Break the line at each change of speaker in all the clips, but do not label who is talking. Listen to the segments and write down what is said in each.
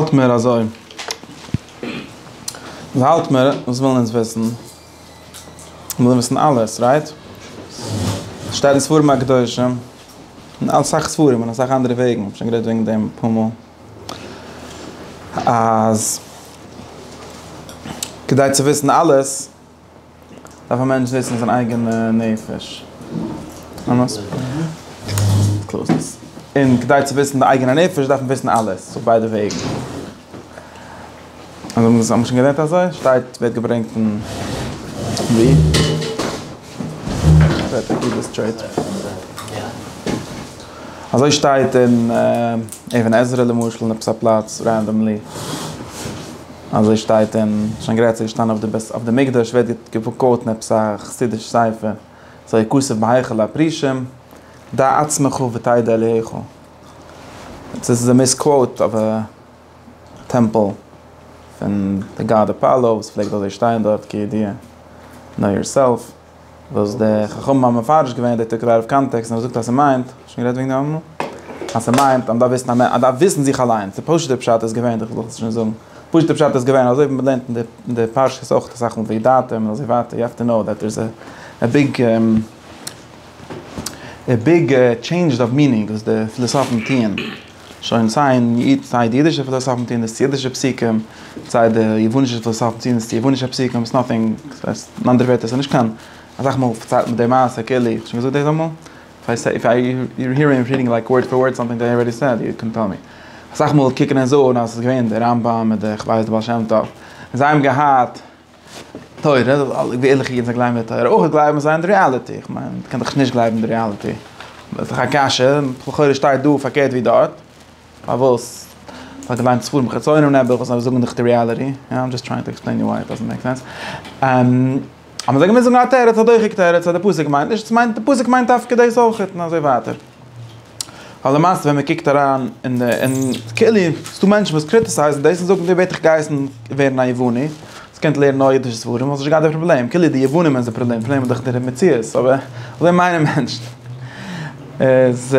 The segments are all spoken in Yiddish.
האלט מער אזוי. וואס האלט מער? וואס ווילן אונז וויסן? מיר ווילן וויסן אלעס, רייט? עס שטייט אין ספרים הקדושים, אין אסאך ספרים און אסאך אנדערע וועגן, איך האב שוין גערעדט וועגן דעם אפאר מאל, אז כדי צו וויסן אלעס, דארף א מענטש וויסן זיין אייגענע נפש, און כדי צו וויסן די אייגענע נפש דארף מען וויסן אלעס אויף ביידע וועגן, האט מען שוין גערעדט אזוי? שטייט ווערט געברענגט פון ווי? אזוי שטייט אין אבן עזרא למשל אין עפעס א פלאץ רענדאמלי. אזוי שטייט אין שוין גרייט צו געשטאנען אויף די בית אויף די מקדש ווערט געקוואוטן עפעס א חסידיש ספר אזוי הכסף בהיכל הפרישים דע עצמך ותדע אלהיך עס איז א מיס קוואוט אויף א טעמפל פון די גאד אפאלא וואס פלעגט אזוי שטיין דארט כידיעה נאו יארסעלף. וואס די חכמים האבן מפרש געווען די תקוה אויף קאנטעקסט און האבן געזאגט אז ס'מיינט, האסט שוין גערעדט וועגן דעם אמאל? אז ס'מיינט אז מ'דארף וויסן אז מען דארף וויסן זיך אליינס, די פשוט'ע פשט איז געווען, איך זאל עס שוין זאגן, פשוט'ע פשט איז געווען אזוי ווי מען לערנט אין די פרשיות אויך אסאך מאל וידעתם און אזוי ווייטער, יו העוו טו קנאו דעט דעירס א ביג א ביג טשעינדזש אוו מינינג וואס די פילאסאפן טוען. שוין סיי אין איד סיי די אידישע פילאסאפן טוען דאס צו אידישע פסוקים, סיי די יוונישע פילאסאפן טוען דאס צו יוונישע פסוקים, איטס נאטינג, אין אנדערע ווערטער ס'נישט קיין, אסאך מאל פארציילט מען די מעשה כאילו איך האב שוין געזאגט דאס אמאל? איף איי סעי, איף יו הער מי רידינג לייק ווארד פאר ווארד סאמטינג דעט איי ארעדי סעד יו קען טעל מי. אסאך מאל קוקן און זאגן אז ס'איז געווען דער רמב ם אדער איך ווייס דער בעל שם טוב און זיי האבן געהאט. תורה, זאל אלע ערליכע אידן זאלן גלייבן אין תורה, אויך גלייבן זיי אין די ריאליטי, איך מיין, מ'קען דאך נישט גלייבן אין די ריאליטי, איז דאך א קשיא, לכאורה שטייט דא פארקערט ווי דארט, פארוואס? כ'האב געליינט ספרים חיצונים נעבעך וואס זאגן דאך די ריאליטי, יא, איים דזשאסט טרייענג טו עקספלעין יו וויי איט דאזענט מעיק סענס. אז מ'זאל געמוזט זאגן א תירוץ, א דוחק תירוץ אז די פסוק מיינט נישט, ס'מיינט, די פסוק מיינט דווקא דאס אויכעט, און אזוי ווייטער. ווייל למעשה ווען מען קוקט אריין אין די אין כאילו ס'איז דא מענטשן וואס קריטיסייזן דאס און זאגן דו בעט איך גייסן ווערן א יווני וואס קען לערנען נאר אידישע ספרים וואלסט נישט געהאט די פראבלעם כאילו די יוונים איז די פראבלעם די פראבלעם איז דאך דער מציאות אבער אזוי מיינען מענטשן איז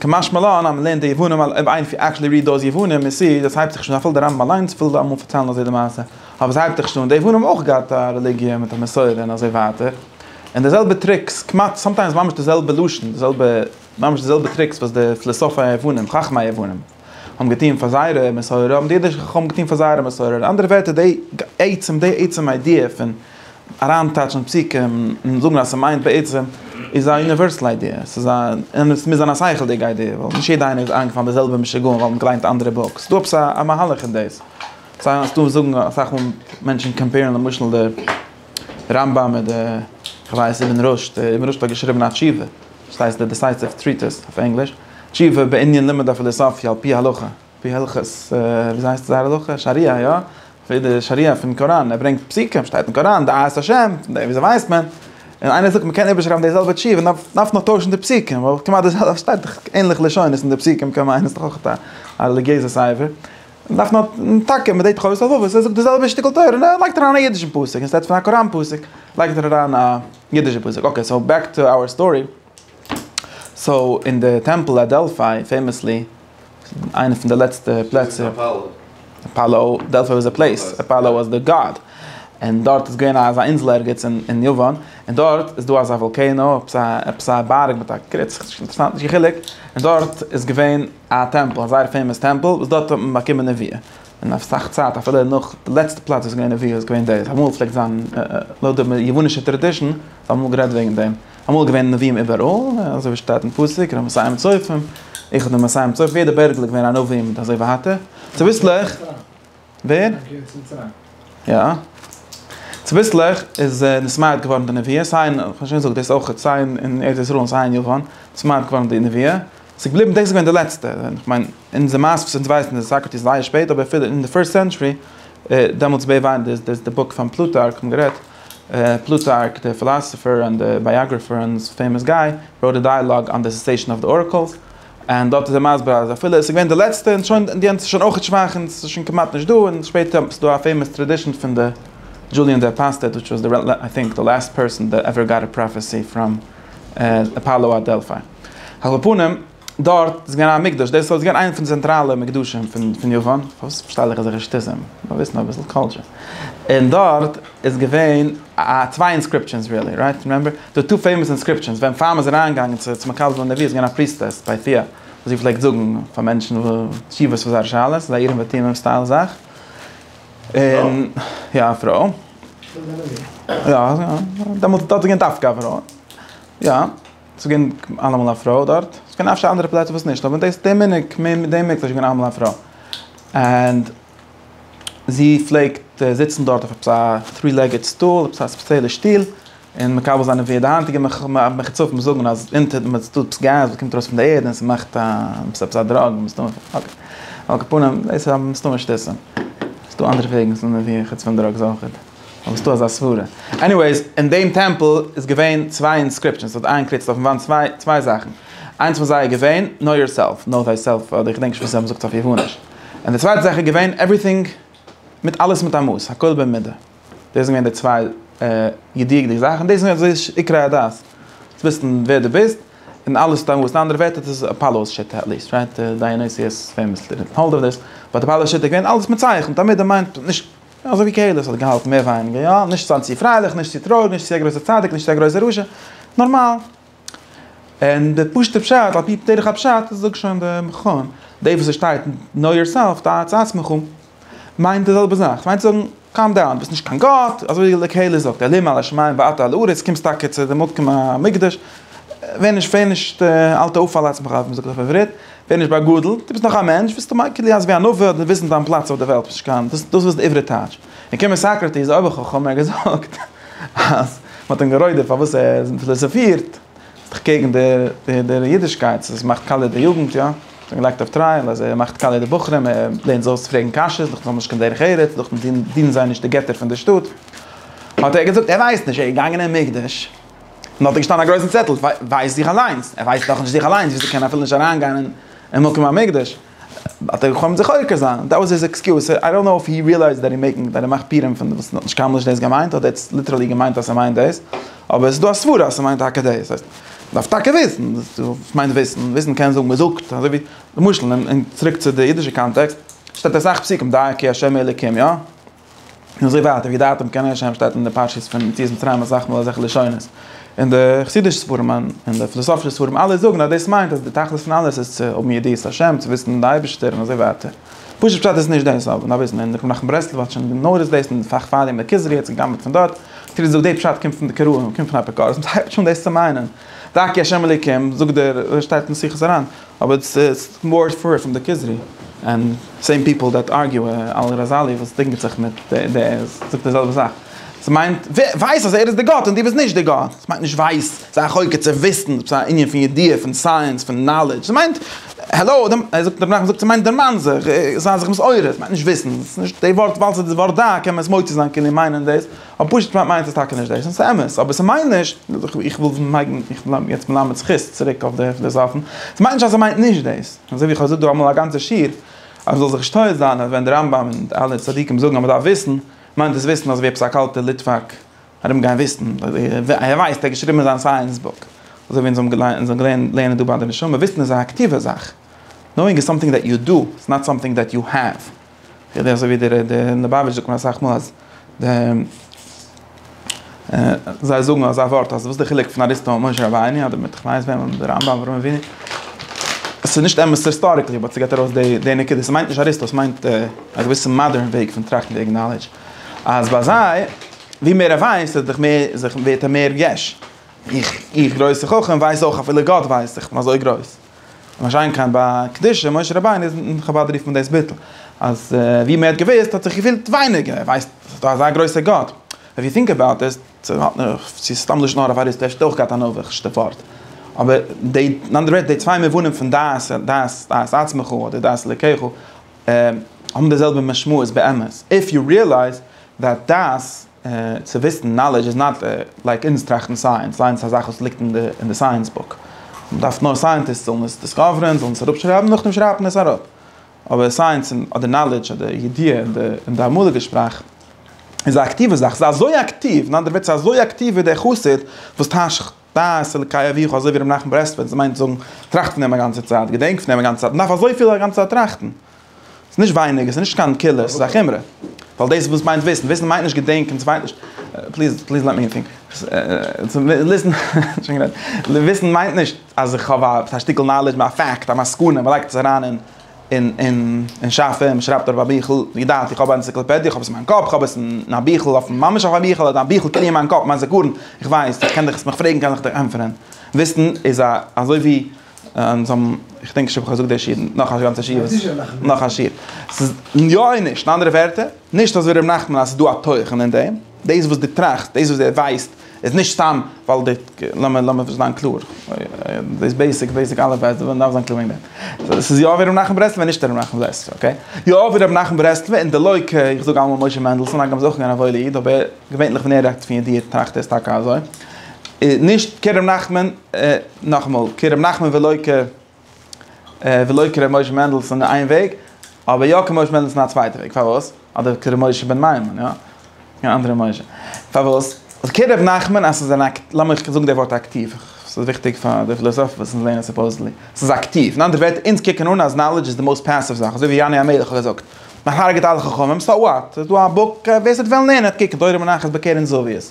כמשמע לן אז מ'לערנט די יוונים אויב איינער עקטשעלי ריעד דאוז יוונים יו סי דאס הייבט זיך שוין אפילו די רמב ם אליינס וויל אמאל פארציילן אזוי די מעשה אבער עס הייבט זיך שוין אן די יוונים האבן אויך געהאט א רעליגיע מיט א מסורה און אזוי ווייטער. און די זעלבע טריקס, כמעט, סאמטיימס ממש די זעלבע לשון, די זעלבע, ממש די זעלבע טריקס וואס די פילאסאפי היוונים, חכמי היוונים, האבן געטון פאר זייערע מסורה, האבן די אידישע חכמים געטון פאר זייערע מסורה. אין אנדערע ווערטער, די עצם, די עצם איידיע פון אריינטייטשן פסוקים און זאגן אז ס'מיינט בעצם, איז א יוניווערסעל איידיע. ס'איז א, און עס מוז זיין א שכל'דיגע איידיע, ווייל נישט יעדע איינער איז איינגעפאלן די זעלבע משוגעים ווייל מ'האט געליינט אנדערע בוקס. ס'איז דא עפעס א מהלך אין דאס. ס'איז דא וואס זאגן, אסאך מאל מענטשן קאמפעירן למשל די. רמב ם די כ'ווייס איבן רשד, איבן רשד האט געשריבן א תשובה וואס הייסט די דיסייסיוו טריטיס אויף ענגליש, תשובה בענין לימוד הפילוסופיה על פי הלכה, על פי הלכות וויאזוי הייסט זייער הלכה? שריעה יא? אפי' די שריעה פון קוראן, ער ברענגט פסוקים שטייט אין קוראן דעת השם, פון דעם וויאזוי ווייסט מען? און איינער זאגט מ'קען איבערשרייבן די זעלבע תשובה נאר דארף נאר טוישן די פסוקים, ווייל כמעט די זעלבע, ס'שטייט דאך ענליכע לשונות אין די פסוקים, קען מיינען ס'דאך אויך א רעליגיעזע ספר. דארף מען האבן טאקע מדי תחושות אויף וואס ער זאגט די זעלבע שטיקל תורה און ער לייגט אריין א אידישן פסוק אינשטעט פון א קוראן פסוק לייגט ער אריין א אידישע פסוק אקעי סאו בעק טו אווער סטארי סאו אין די טעמפל אט דעלפיי פעימעסלי איינע פון די לעצטע פלעצער אפאלא דעלפיי וואס א פלעיס אפאלא וואס די גאד און דארט איז געווען אזא אינזל ערגעץ אין יוון און דארט איז דא אזא וואלקענא עפעס א עפעס א בארג מיט א קריץ אינטערסאנט נישט קיין חילוק און דארט איז געווען א טעמפל, א זייער פעימאס טעמפל וואס דארט האט מען באקומען נביאה, און אויף אסאך צייט אפילו נאך די לעצטע פלאץ וואס איז געווען נביאה איז געווען דאס, אמאל פלעגט זיין לויט די יוונישע טראדישן האט מען אמאל גערעדט וועגן דעם, אמאל איז געווען נביאים איבעראל, אזוי ווי שטייט אין פסוק רמ מסיים צופים, איך בין מסיים צופים, יעדע בערגל איז געווען א נביא מיט אזוי ווייטער, צוביסלעך. ווער? יא. צוביסלעך איז נסמייעט געווארן די נביא, סיי אין, כ'האב שוין געזאגט דאס אויכעט, סיי אין ארץ ישראל און סיי אין יוון, נסמייעט געווארן די נביא. ס'איז געבליבן, דאס איז געווען די לעצטע. כ'מיין, אונזער מייסטער וואס אונז ווייסן איז סאקראטיס זייער שפעט, אבער אפילו אין די פירסט סענטשורי, דעמאלטס בעי' וויין די איז די בוק פון פלוטארק, כ'האב גערעדט, פלוטארק די פילאסעפער און די בייאגראפער און פעימאס גיי, ראוט א דייעלאג אן די סעסעישאן אוו די ארעקעלס. און דארט איז ער מסביר אז אפילו עס איז געווען די לעצטע און שוין די יענץ איז שוין אויך שוואך און עס איז שוין כמעט נישט דא און שפעטער האט מען ס'דא א פעימאס טרעדישען פון די דזשוליען דע פאסטעט וויטש וואס די איי טינק די לאסט פערסען דע עווער גאט א פראפעסי פראם אפאלא אט דעלפיי על כל פנים דארט איז געווען א מקדש דאס איז געווען איינע פון די צענטראלע מקדשים פון יוון פארוואס פארשטייל איך אזעלכע שטותים מיר וויסן אביסל קולטשער און דארט. איז געווען א צוויי אינסקריפשענס רילי רייט רימעמבער די טא פעימאס אינסקריפשענס ווען פעם איז אריין געגאנגען צו צו מקבל פון נביא איז געווען א פריסטעס ביי פיע וואס זי פלעגט זאגן פאר מענטשן תשובות פאר זייערע שאלות זייער יראים ותומים סטייל זאך און יא א פרוי יא דעמאלטס דארט איז געווען דווקא א פרוי יא ס'איז געווען אלעמאל א פרוי דארט ס'קען אפשר אנדערע פלעצער וואס נישט אבער דאס די מנהג די מנהג איז געווען אלעמאל א פרוי ענד. זי פלעגט זיצן דארט אויף עפעס א טרי לעגעד סטול, עפעס א ספעציעלע שטיל, און מקבל זיין ווי די היינטיגע מחוצפים זאגן אז אונטער דעם איז דא עפעס געז וואס קומט ארויס פון די ערד און ס'מאכט א עפעס עפעס א דראג מסתמא, על כל פנים דאס איז מסתמא שטותים, ס'איז דא אנדערע וועגן צו נעמען ווי חוץ פון דראגס אויכעט, אבער ס'איז דא אזא סברה. עניוועיס, אין דעם טעמפל איז געווען צוויי אינסקריפשאנס, ס'האט איין קריצט אויפן וואנט צוויי צוויי זאכן, איינס פון זיי איז געווען, נאו יורסעלף, נאו טיי סעלף, אדער איך געדענק נישט וואס זיי האבן געזאגט אויף יאפאניש. און די צווייטע זאך איז געווען עווריטינג מיט אלעס מיט א מאס, הכל במידה. דאס זענען געווען די צוויי ידיעות'דיגע זאכן, דאס איז געווען די עיקרי הדת, צו וויסן ווער דו ביסט, און אלעס מיט א מאס, אין אנדערע ווערטער דאס איז אפאלא'ס שיטה, עטליעסט רייט דיאניסיוס פעימאסלי דידנט האלד אויף דעיס, באט אפאלא'ס שיטה איז געווען אלעס מיט צייכן, תמיד א מיינד נישט אזוי ווי קהלת האט געהאלטן מער ווייניגער יא, נישט זיין צו פרייליך, נישט צו טרויעריג, נישט צו א גרויסער צדיק, נישט צו א גרויסער רשע, נארמאל. און די פשוטע פשט על פי דרך הפשט זאגט שוין די מכון, די וואס עס שטייט נאו יאר סעלף דעת את עצמך מיינט די זעלבע זאך, סמיינט צו זאגן קאם דאון ביסט נישט קיין גאט, אזוי ווי לקהלת זאגט אלוהים על השמים ואתה על הארץ קומסט טאקע צו די מקום המקדש, ווער נישט ווער נישט אל תעוף על עצמך ווי מען זאגט אויף עברית, ווער נישט באגאדלט, דו ביסט נאך א מענטש, ביסטו מייקל יענס ווי א נביא האט וויסן דיין פלאץ אויף די וועלט ביסט נישט קיין, דאס איז די עברי טייטש. און קומט סאקראטיס, אויב איך האב חו מ געזאגט אז מען האט אים גערוידערט פארוואס ער פיליזאפירט, איז דאך קעגן דער אידישקייט, ס'איז מאכט קאליע די יוגנט, יא? ס'האט אים געלייגט אויף טרייעל אז ער מאכט קאליע די בחורים, ער לערנט זיי אויס פרעגן קשיות, דאך זיי האבן נישט קיין דרך ארץ, דאך דינען זיי נישט די געטער פון דער שטאט. האט ער געזאגט, ער ווייסט נישט, ער איז געגאנגען אין מקדש, און דארט איז געשטאנען א גרויסן צעטל, ווייז דיך אליינס, ער ווייסט דאך נישט זיך אליינס, וויאזוי קען ער אפילו נישט אריינגיין אין מקום המקדש? האט ער געחלומט זיך עוקר זיין, דעט וואס היז עקסקיוז, סאו איי דאנט נאו איף הי ריעלייזד דעט הי מעקינג, דעט ער מאכט פירעם פון וואס האט נישט קיינמאל נישט דאס געמיינט, אדער עטס ליטערלי געמיינט אז ס'מיינט דאס, אבער ס'דא א סברה אז ס'מיינט טאקע דאס, ס'הייסט, מ'דארף טאקע וויסן, וואס מיינט וויסן? וויסן קען זאגן מ'זאגט, אזוי ווי, למשל, צוריק צו די אידישע קאנטעקסט, שטייט אסאך פסוקים דייקי השם אלוקים, יא? און אזוי ווייטער, וידעתם כי אני ה' שטייט אין די פרשיות פון יציאת מצרים אסאך מאל אזעלכע לשונות, און די חסידישע ספרים און די פילאסאפישע ספרים אלע זאגן אז דאס מיינט אז די תכלית פון אלעס איז צו האבן ידיעת השם, צו וויסן די אייבערשטער און אזוי ווייטער. פשוט פשט איז נישט דאס אבער נאר וויסן, און רבי נחמן ברסלב האט שוין נורס דאס אין פאך פאר ימי כוזרי האט זיך גע'גנב'ט פון דארט, כאילו זי זאגט די פשט קומט פון די קראים און קומט פון אפיקורסים, זי הייבט שוין דאס צו מיינען, דאקי השם אלוקים זאגט דער שטייט אין מס' אריין. אבער איטס איטס מאר פאר פרום די כוזרי ענד סעים פיפעל דעט ארגיו על ראזאלי וואס דינגעט זיך מיט די זאגט די זעלבע זאך עס מיינט ווייס אז ער איז די גאט און די ביסט נישט די גאט עס מיינט נישט ווייס זיי א חוקר צו וויסן עפעס א ענין פון ידיעה פון סייענס פון נאלעדזש עס מיינט העלאו דעם ער זאגט דערנאך זאגט עס מיינט דערמאן זיך זיי זיך מסעורר עס מיינט נישט וויסן עס איז נישט די ווארט ווייל ס'איז די ווארט דא קען מען עס מוציא זיין כאילו מיינען דאס. און פשוט מיינט מיינט עס טאקע נישט דאס, און ס'איז אמת, אבער ס'מיינט נישט, איך וויל לייגן, איך בין יעצט מלמד זכות צוריק אויף די פילאזאפן, ס'מיינט נישט אז ער מיינט נישט דאס, אזוי ווי איך האב געזאגט דא אמאל א גאנצע שיעור, אז מ'זאל זיך נישט טועה זיין אז ווען די רמב ם און די אלע צדיקים זאגן אז מ'דארף וויסן, מיינט דאס וויסן אזויווי עפעס א קאלטער ליטוואק ארום גיין וויסן, ער ווייסט, ער האט געשריבן אין זיין סייענס בוק, אזוי ווי אונז האבן געלערנט לערנען דא ביי די נשמה, וויסן איז א אקטיווע זאך, נאואינג איז סאמטינג דעט יו דא, איטס נאט סאמטינג דעט יו העוו. כדי אזוי ווי דער ליבאוויטש זאגט מיר אסאך מאל אז די זיי זאגן אזא ווארט אז וואס די חילוק פון אריסטו און משה רבינו אדער מיט כ'ווייס וועם אדער רמב ם אדער אברהם אבינו עס איז נישט אמת היסטאריקלי באט ס'געט ארויס די די נקודה ס'מיינט נישט אריסטו ס'מיינט א געוויסע מאדערן וועג פון טראכטן וועגן נאלעדזש אז ביי זיי ווי מער ער ווייסט איז דאך מער זיך ווערט ער מער יש איך איך גרויסע חכם ווייס אויך אפילו גאט ווייסט איך בין אזוי גרויס. משאין כן ביי קדושת משה רבינו איז אין חבד רופט מען דאס ביטול, אז ווי מען האט געוויסט האט זיך געפילט ווייניגער, ער ווייסט עס איז דא אזא גרויסע גאט, איף יו טינק אבאוט איט, צו האט מען, צו איז סתם לשון הרע פאר איז טעשט אויך געהאט א נאוויך ש ט ווארט, אבער די, אין אנדערע ווערטער די צוויי מובנים פון דעת, דעת, דעת עצמך אדער דעת אלקיך, האבן די זעלבע משמעות באמת, איף יו ריעלייז דעט דעת. צו וויסן, נאלעדזש איז נאט לייק אונז טראכטן סייענס, סייענס איז א זאך וואס ליגט אין די סייענס בוק, מען דארף נאר סייענטיסט זאלן עס דיסקאווערען, זאלן עס אראפשרייבן, נאכדעם שרייבט מען עס אראפ, אבער סייענס אדער נאלעדזש אדער ידיעה אין די אמאליגע שפראך איז א אקטיווע זאך, ס'איז אזוי אקטיוו, אין אנדערע ווערטער ס'איז אזוי אקטיוו ווי דער חסיד וואס טיישט. דעת אלקי אביך אזוי ווי רבי נחמן ברסלבער, דאס מיינט זאגן, טראכט פון דעם א גאנצע צייט, געדענק פון דעם א גאנצע צייט, מ'דארף אזויפיל א גאנצע צייט טראכטן, ס'איז נישט ווייניג, עס איז נישט קיין קולא, ס'איז א חומרא, ווייל דאס וואס מיינט וויסן, וויסן מיינט נישט געדענקען, ס'מיינט נישט, פליז פליז לעט מי טינק, וויסן מיינט נישט אז איך האב א שטיקל נאלעדזש, א פאקט, א מסקנא, מ'לייגט עס אריין אין און און און שאף אים שרייבט אויף א ביכל, ווי געדאכט איך האב א אנציקלאפעדיע, איך האב עס אין מיין קאפ, איך האב עס אין א ביכל אויפן, ממש אויף א ביכל, אדער א ביכל קען איך אין מיין קאפ, מיין זיכרון, איך ווייס, איך קען דיך עס מיך פרעגן קען איך דיר ענטפערען, וויסן איז א אזוי ווי און זיי האבן, איך דענק נישט אויב איך האב געזאגט די שיעור, נאך א גאנצע שיעור וואס, נאך א שיעור, ס'איז יא און נישט, אין אנדערע ווערטער, נישט אזוי ווי ר' נחמן אז ס'איז דא א תוכן אין דעם, דאס וואס דו טראכסט, דאס וואס ער ווייסט, איז נישט סתם ווייל די, לאמיר, לאמיר זיין קלאר, דאס בעיסיק, בעיסיק אלף בית, ווען מ'דארף זיין קלאר וועגן דעם. דאס איז יא ווי ר' נחמן ברסלב און נישט ר' נחמן זצ ל, אקעי? יא ווי ר' נחמן ברסלב און די לוי' כ, איך זאג אלעמאל משה מענדלסאן, הגם איז אויך געווען א וואוילע איד, אבער געווענליך ווען ער רעדט פון ידיעה טראכט ער איז טאקע אזוי. נישט כר' נחמן, נאכאמאל, כר' נחמן ולא כ. ולא כר' משה מענדלסון איין וועג, אבער יא כר' משה מענדלסון א צווייטע וועג, פארוואס? אדער כר' משה בן מימון, יא? קיין אנדערע משה. פארוואס? אז כר' ר' נחמן אז ס'איז אן אק, לאמיך זאגן די ווארט אקטיוו, ס'איז וויכטיג פאר די פילאזאפן וואס אונז לערנען סופאוזעדלי. ס'איז אקטיוו, אין אנדערע ווערטער, אונז קוקן אן אז נאלעדזש איז די מאוסט פעסיוו זאך, אזוי ווי יונה המלך האט געזאגט, מ'הרג'עט אלע חכמים, סאו וואט? ס'איז דא א בוק, ווער ס'וועט וועלן לערנען האט קוקן, תורה מונחת בקרן זווית.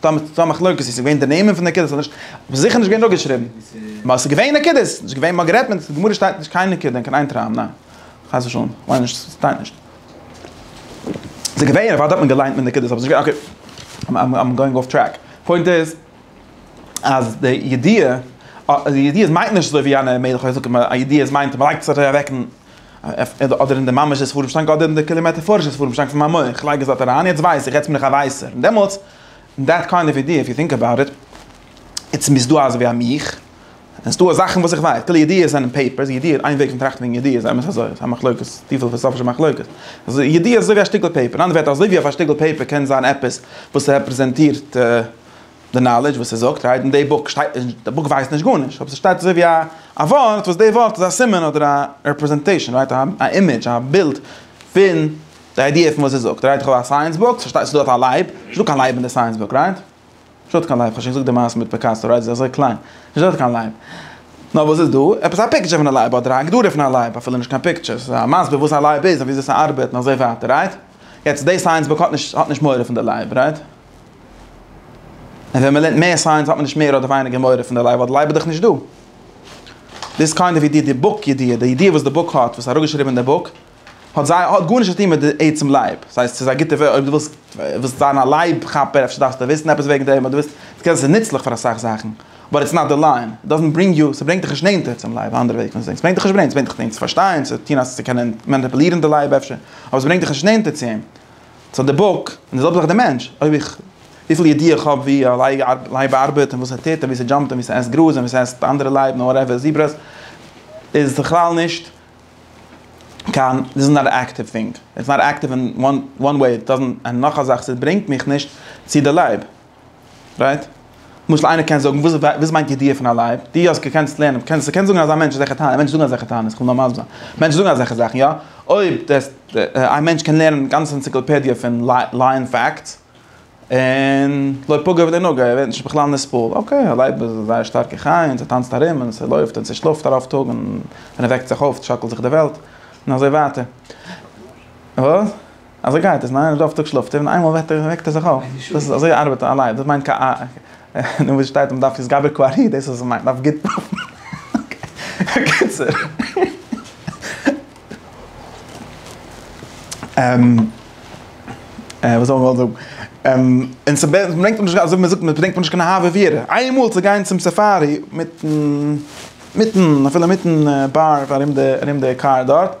טא מ טא מחלוקת איז געווען די נעמען פון די נקודות אדער נישט אבער זיכער נישט געווען דא געשריבן נאר ס'איז געווען נקודות איז נישט געווען מ'האט גערעדט מיט די גמרא שטייט נישט קיין נקודה אין קיין איין טראם ניין חס ושלום כ'מיין נישט ס'שטייט נישט ס'איז געווען אוודאי האט מען געליינט מיט נקודות אבער ס'איז נישט אקעי איים איים גאוינג אףף טרעק פוינט איז אז די ידיעה די ידיעה מיינט נישט אזוי ווי יענע מלך האט געזאגט א ידיעה מיינט מ'לייגט עס אוועק אין אדער אין די ממש'ע ספרים שטאנק אדער אין די כולי מעטאפארישע ספרים שטאנק פון מיין מח, איך לייג עס דארט אריין, יעצט ווייס איך, יעצט בין איך א ווייסער, און דעמאלטס, אין דעט קיינד אוו אידיע, איף יו טינק אבאוט איט, איטס מ'איז דא אזויווי א מיך, און ס'דא זאכן וואס איך ווייס, כאילו ידיעות זענען פעיפערס, ידיעות, איין וועג פון טראכטן וועגן ידיעות, אמת אזוי, ס'איז א מחלוקת, טיפע פילאסאפישע מחלוקת, אז ידיעות איז אזויווי א שטיקל פעיפער, אין אנדערע ווערטער אזויווי אויף א שטיקל פעיפער קען זיין עפעס וואס רעפרעזענטירט די נאלעדזש וואס ער זאגט רייט אין די בוק שטייט נישט, די בוק ווייזט נישט גארנישט, אבער ס'שטייט אזוי ווי א ווארט וואס די ווארט איז א סימן אדער א רעפרעזענטעישאן רייט א אימעדזש א בילד פון די איידיע פון וואס ער זאגט רייט איך האב א סייענס בוק ס'שטייט ס'דא אויף א לייב נישט דא קיין לייב אין די סייענס בוק רייט נישט דא קיין לייב כ'האב שוין געזאגט די מעשה מיט פיקאסא רייט ס'איז אזוי קליין נישט דא קיין לייב נאר וואס איז דא עפעס א פיקטשער פון א לייב אדער א הגדרה פון א לייב אפילו נישט קיין פיקטשער ס'איז א מסביר וואס א לייב איז און וויאזוי ס'ארבעט און אזוי ווייטער רייט יעצט די סייענס בוק האט נישט האט נישט מורא פון די לייב רייט. און ווען מ'לערנט מער סייענס האט מען נישט מער אדער ווייניגער מורא פון די לייב ווייל די לייב איז דאך נישט דא. דאס קיינד אוו ידיעה, די בוק ידיעה, די ידיעה וואס די בוק האט, וואס איז אראפגעשריבן אין די בוק, האט זיי האט גארנישט צו טון מיט די עצם לייב. ס'הייסט ס'איז א גוטע אויב דו ווילסט ווילסט זיין א לייב כאפער אפשר דארפסטו וויסן עפעס וועגן דעם אדער וויסן ס'קען זיין נוצליך פאר אסאך זאכן באט איטס נאט די ליין, איט דאזענט ברינג יו, ס'ברענגט דיך נישט נענטער צום לייב, א אנדערע וועג פון זאגן, ס'ברענגט דיך נישט ברענגט, ס'ברענגט דיך נענטער צו פארשטיין, צו טון, צו קענען מאניפולירן די לייב אפשר, אבער ס'ברענגט דיך נישט נענטער צו אים. סאו די בוק, און די זעלבע זאך די מענטש, אויב איך, וויפיל ידיעה איך האב ווי א לייב ארבעט און וואס ער טוט און ווי ס'דזשאמפט און ווי ס'עסט גראז און ווי ס'עסט די אנדערע לייב און וואטעווער זיברעס, איז בכלל נישט קיין, דיס איז נאט א עקטיוו טינג, איטס נאט עקטיוו אין וואן וועי, איט דאזענט, און נאך א זאך, ס'ברענגט מיך נישט צו די לייב. רייט? למשל איינער קען זאגן, וואס וואס מיינט ידיעה פון א לייב? די אז קענסט לערנען, קענסט קענסט זאגן אזא מענטש איז א חתן, מענטשן זאגן אזעלכע טענות, איך וויל נאר מסביר זיין, מענטשן זאגן אזעלכע זאכן יא, אויב דעס א מענטש קען לערנען גאנצע אנציקלופעדיע פון לייען פאקטס, און לא פגע ולא נגע, ער ווערט נישט בכלל נסבל, אקעי א לייב איז א זייער שטארקע חיה און ס'טאנצט ארום און ס'לויפט און ס'שלאפט ארויף טאג און ווען ער וועקט זיך אויף שאקלט זיך די וועלט, און אזוי ווייטער. אזוי גייט עס, ניין? רוב טאג שלאפט ער און איינמאל וועט ער וועקט ער זיך אויף. דאס איז אזוי ארבעט א לייב, דאס מיינט קיין א. נו וואס שטייט מען דארף יסגבר ק ארי דאס איז וואס מ'מיינט, מ'דארף גוט פאפן. אקעי. וואס האב איך געוואלט זאגן? און ס'ברענגט מיר נישט אזוי מ'זאגט מ'ברענגט מיר נישט קיין אהבה ויראה. איינמאל צו גיין צום סאפארי מיטן מיטן אפילו מיטן באר ארום די ארום די קאר דארט.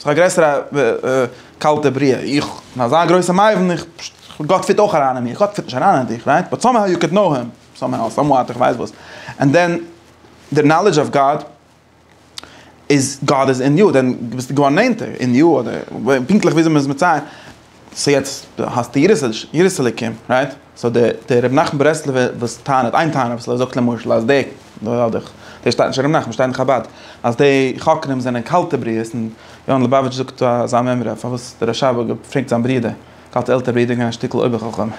ס'איז דאך א גרעסערע קאלטע בריאה, איך בין אזא גרויסע מבין, גאט פיט אויך אריין אין מיר, גאט פיט נישט אריין אין דיך, רייט? באט סאמהאו יו קען קנאו הים, סאמהאו, סאמוואט, איך ווייס וואס, ענד דען די נאלידזש אוו גאט איז, גאט איז אין יו, דען ביסטו געווארן נענטער אין יו, אדער פונקטליך וויאזוי מ'איז מצייר. סאו יעצט דו האסט די יראת אלוקים רייט? סאו דער רבי נחמן ברסלב'ער וואס טענה'ט איין טענה וואס ער זאגט למשל אז די, דאס שטייט נישט אין רבי נחמן שטייט אין חבד, אז די חוקרים זענען קאלטע בריות און יונה לעבאוויטש זאגט אזא מימרא פארוואס דער רשב א האט געפרעגט זיין ברודער, קאלטע עלטערע ברודער איז געווען א שטיקל אויבער חכם, סאו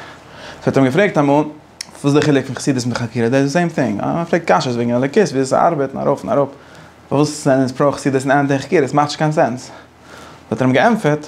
האט ער אים געפרעגט אמאל וואס איז די חילוק פון חסידות מיט חקירה דאס איז די סעים טינג, מען פרעגט קשיות וועגן אלוקות ווי אזוי ס'ארבעט און ארויף און אראפ פארוואס זענען אונז פרא חסידות און אנטי חקירות ס'מאכט נישט קיין סענס האט ער אים געענטפערט.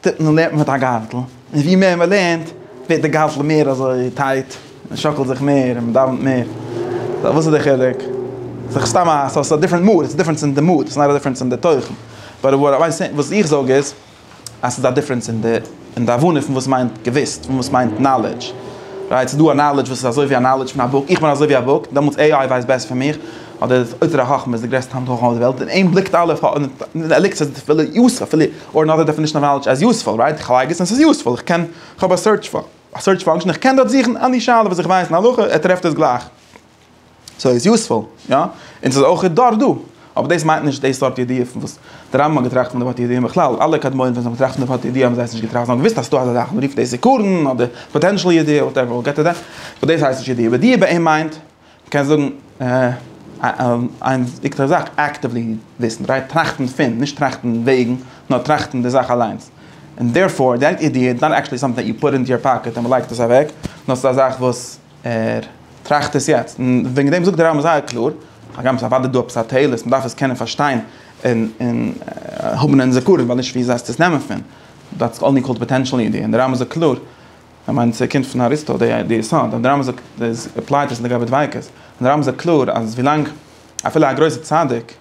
טוט מען לערנט מען מיט א גארטל, און ווי מער מען לערנט ווערט די גארטל מער אזוי טייט, מען שאקלט זיך מער און מען דאווענט מער, סא וואס איז די חילוק? ס'דאך סתם א, ס'איז א דיפרענט מאד, ס'איז דיפרענס אין די מאד, ס'איז נאר א דיפרענס אין די תוכן, באט וואט איים סעי, וואס איך זאג איז אז ס'איז א דיפרענס אין די, אין די הבנה פון וואס מיינט געוויסט, פון וואס מיינט נאלעדזש, רייט? ס'איז דא א נאלעדזש וואס איז אזוי ווי א נאלעדזש פון א בוק, איך בין אזוי ווי א בוק, דעמאלטס עי איי ווייסט בעסער פון מיך, אדער אוצר החכמה איז די גרעסטע האנט חכמה אויף די וועלט, און אים בליקט אלעס, ער ליקט עס אפילו יוסף, אפילו. אור נאט א דעפענישן אוו נאלעדזש עז יוספול, רייט? איך לייג עס און ס'איז יוספול, איך קען, כ'האב א סערטש פא, א סערטש פאנקשען, איך קען דארט זוכן עני שאלה וואס איך ווייס אין הלכה, ער טרעפט עס גלייך. סאו איז יוספול, יא? און ס'איז אויך דארט דא. אבער דאס מיינט נישט די סארט ידיעה פון וואס די רמב ם האט געטראכט פון די ווארט ידיעה און בכלל אלע קדמונים ווען זיי האבן געטראכט פון די ווארט ידיעה האבן זיי עס נישט געטראכט, זיי האבן געוויסט אז ס'דא אזא זאך, מ'רופט דאס עיקרון אדער פאטענשעל ידיעה, וואטעווער, געט איר דעם? אבער דאס הייסט נישט ידיעה. ידיעה ביי אים מיינט. מ'קען זאגן איין וויכטיגע זאך, אקטיוולי וויסן, רייט? טראכטן פון, נישט טראכטן וועגן, נאר טראכטן די זאך אליינס. און דערפאר, דיין אידעע איז נאט עקטשועלי סאמטינג דעט יו פוט אינטו יור פאקעט און מ'לייגט עס אוועק, נאר ס'איז א זאך וואס ער טראכט עס יעצט. און וועגן דעם זאגט דער רמב ם זייער קלאר, הגם ס'איז אוודאי דא עפעס א תועלת, מ'דארף עס קענען פארשטיין און און האבן אין זכרון, ווייל נישט ווי זייסטו עס נעמען פון, דעטס אנלי קאלד פאטענשעל אידעע. און דער רמב ם זאגט קלאר איך מיין ס'קומט פון אריסטו די די יסוד אז די רמב ם זאגט איז עפלייט דאס לגבי דביקות, און די רמב ם זאגט קלאר אז ווילאנג אפילו א גרויסע צדיק, איך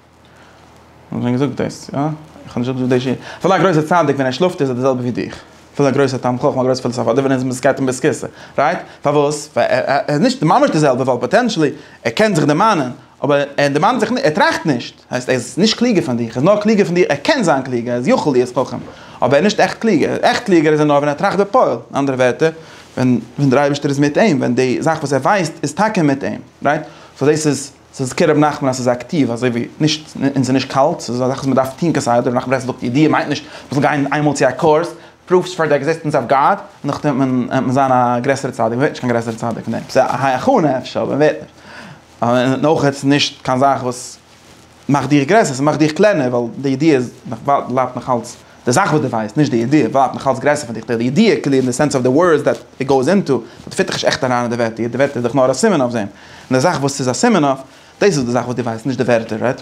האב שוין געזאגט דאס, יא? איך האב נישט אפגעזאגט די ש ס, אפילו א גרויסע צדיק ווען ער שלאפט איז ער די זעלבע ווי דיך, אפילו א גרויסע תלמיד חכם א גרויסע פילאזאף אדער ווען ער איז מיט זקעתים ביז כסא, רייט? פארוואס? ווייל ער ער איז נישט ממש די זעלבע ווייל פאטענשעלי ער קען זיך דערמאנען אבער ער דערמאנט זיך נישט, ער טראכט נישט, הייסט ער איז נישט קלוגער פון דיך, ער איז נאר קלוגער פון דיר, ער קען זיין קלוגער, ער איז יכול להיות חכם, אבער ער איז נישט עכט קלוגער, עכט קלוגער איז ער נאר ווען ער טראכט בפועל, אין אנדערע ווערטער, ווען דער אייבערשטער איז מיט אים, ווען די זאך וואס ער ווייסט איז טאקע מיט אים, רייט? סאו דאס איז, ס'איז כ ק רבי נחמן אז ס'איז אקטיוו, אזוי ווי נישט, און ס'איז נישט קאלט, ס'איז א זאך וואס מען דארף טון כסדר, רבי נחמן ברסלב זאגט ידיעה מיינט נישט מען זאל גיין איינמאל צו א קורס, פרופס פאר די עקזיסטענס אוו גאד, און נאכדעם וועט מען זיין א גרעסערע צדיק, מען ווערט נישט קיין גרעסערע צדיק פון דעם, ס'איז א הכנה אפשר, אבער מען ווערט נישט. און אויך איז עס נישט קיין זאך וואס מאכט דיך גרעסער, ס'מאכט דיך קלענער, ווייל די ידיעה איז נאך ווייט, בלייבט נאך אלץ, די זאך וואס דו ווייסט, נישט די ידיעה, בלייבט נאך אלץ גרעסער פון דיך, די ידיעה כאילו אין די סענס אוו די ווארדס דעט איט גאוס אינטו, באט פיט דיך נישט עכט אריין אין די ווערטער, די ווערטער איז דאך נאר א סימן אויף דעם, און די זאך וואס ס'איז א סימן אויף, דאס איז די זאך וואס דו ווייסט, נישט די ווערטער, רייט?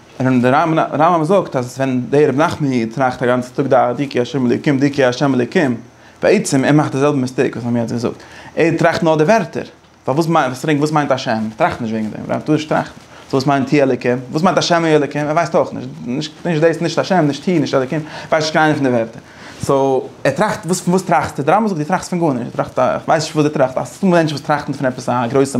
און דער רמב ם זאגט אז ווען דער רבי נחמן איד טראכט א גאנצע טאג דא די כי השם אלוקים די כי השם אלוקים, בעצם ער מאכט די זעלבע מיסטעיק וואס מיר האבן יעצט געזאגט, ער טראכט נאר די ווערטער, פארוואס וואס מיינט השם, ער טראכט נישט וועגן דעם, ער טאר נישט טראכטן, סאו וואס מיינט ה' אלוקים, וואס מיינט השם ה' אלוקים, ער ווייסט אויך נישט, נישט דאס נישט השם נישט ה' נישט אלוקים, ווייסט נישט קיין איינע פון די ווערטער, סאו ער טראכט וואס פון וואס טראכסטו, דער רמב ם זאגט דו טראכסט פון גארנישט, דו טראכסט א כ'ווייס נישט וואס דו טראכסט, דא איז מענטשן וואס טראכטן פון עפעס א גרויסע.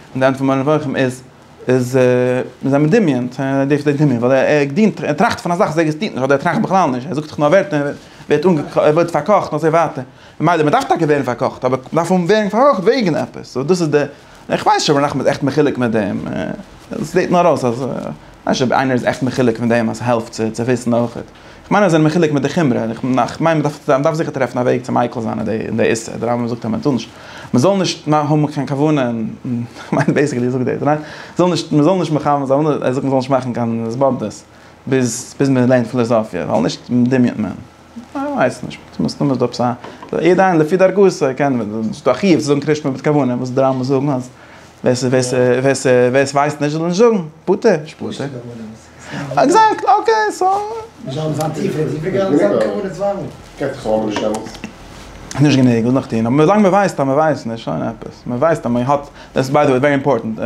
און די ענד פון מורה נבוכים איז איז מיר זענען מדמיין צו ער דארף זיי דמיון ווייל ער געדינט ער טראכט פון א זאך וואס עקזעסטירט נישט אדער ער טראכט בכלל נישט ער זאגט זיך נאר ווערטער און ווערט אנגעקאכט ער ווערט פארקאכט אזוי ווייטער ממילא מען דארף טאקע ווערן פארקאכט אבער מען דארף ווערן פארקאכט וועגן עפעס און דאס איז די איך ווייס נישט אויב ר' נחמן איז עכט מחולק מיט דעם עס זעט נאר אויס אז כ'ווייס נישט אויב איינער איז עכט מחולק מיט דעם אז ס'העלפט צו וויסן אויכעט. כ'מיין אז זיי זענען מחולק מיט די חומרא, און כ'מיין מ'דארף זיכער טרעפן א וועג צו מיקל זיין אין די איסור, דער רמב ם זאגט אז מ'טאר נישט, מ'זאל נישט האבן קיין כוונה אין, כ'מיין בעיסיקלי זאגט ער, מ'זאל נישט, מ'זאל נישט מכוון זיין, ער זאגט מ'זאל נישט מאכן קיין התבודדות ביז ביז מ'לערנט פילאזאפיע, ווייל נישט דמיונ'ט מען, כ'ווייס נישט, מסתמא איז דא עפעס א, יעדער איינער לפי דרכו, ס'קען, ס'איז דא א חיוב צו זאגן קרישמע מיט כוונה, וואס די רמב ם זאגן אז ווער ס'ווייסט נישט זאל נישט זאגן, פטור, נישט פטור. עקזעקט אקעי
סאו.
נישט גענוג וואס נאך טון אבער ווילאנג מען ווייסט אז מען ווייסט נישט שוין עפעס מען ווייסט אז מען האט דעס ביי די וועי ווערי אימפארטענט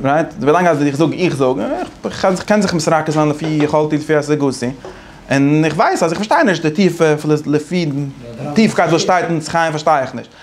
רייט ווילאנג אז איך זאג איך זאג איך קען זיך מסרקע זיין לפי יכולתי ולפי השגתי און איך ווייס אז איך פארשטיי נישט די טיפע לפי טיפקייט וואס שטייט אין עץ חיים פארשטיי איך נישט.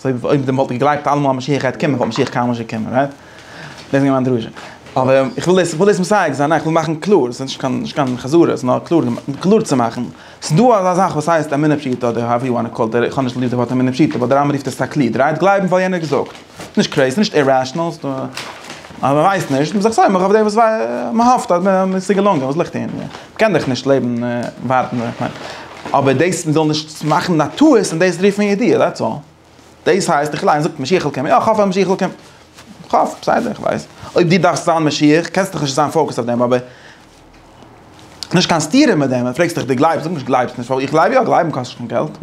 סוי אויב די וואלט געגלייבט אלעמאל אז משיח גייט קומען וואלט משיח קיינמאל נישט געקומען רייט? דאס איז געווען מיין דרשה. אבער איך וויל דאס וויל דאס מסייג זיין איך וויל מאכן קלאר ס'איז נישט קיין נישט קיין חזרה ס'איז נאר קלאר קלאר צו מאכן ס'איז דא אזא זאך וואס הייסט אמונה פשוטה אדער האו יו וואנט קאל איך האב נישט ליב די ווארט אמונה פשוטה באט די רמב ם רופט עס תקליד רייט גלייבן ווייל יענער האט געזאגט נישט קרעיז נישט אירעשענעל ס'איז דא אז מ'ווייסט נישט מ'איז זיך סומך אויף דעם וואס מ'האפט אז ס'איז געלונגען וואס ליגט אין קען דאך נישט לעבן און ווארטן איך מיין אבער דאס מ'זאל נישט מאכן א טעות און דאס רופט מען ידיעה דעטס אלל. דאס הייסט איך ליין זאגט משיח'ל קומען יא כ'האף אז משיח'ל קומט איך האף בסדר איך ווייס אויב דו דארפסט זיין משיח קענסט דאך נישט זיין פאוקעסט אויף דעם אבער נישט קיין סתירה מיט דעם ווען פרעגסט איך דו גלייבסט זאג נישט גלייבסט נישט ווייל איך גלייב יא גלייבן קאסט נישט קיין געלט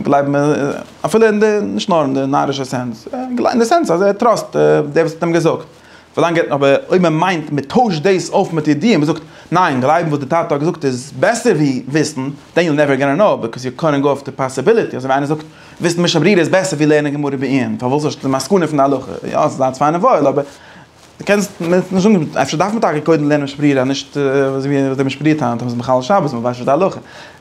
גלייבן איז אפילו אין די נישט נאר אין די נארישע סענס אין די סענס אז ער טראסט דער וואס האט אים געזאגט. ווילאנג ער האט אבער אויב מען מיינט מען טוישט דאס אויף מיט ידיעה מען זאגט ניין גלייבן וואס די טאטע האט געזאגט איז בעסער ווי וויסן דען יו נעווער גאנא נאו ביקאוז יו קאנט גאו אויף די פאסיביליטי אזוי ווי איינער זאגט וויסן משא ברירה איז בעסער ווי לערנען גמרא בעיון פארוואס האסטו די מסקנא פון די הלכה יא ס'איז אלץ פיין און וואויל אבער די קענסט נישט זאגן אפשר דארף מען טאקע קודם לערנען משא ברירה נישט אזוי ווי די משא ברירה טענה'ט אז מ'איז מחלל שבת מען ווייסט נישט די הלכה.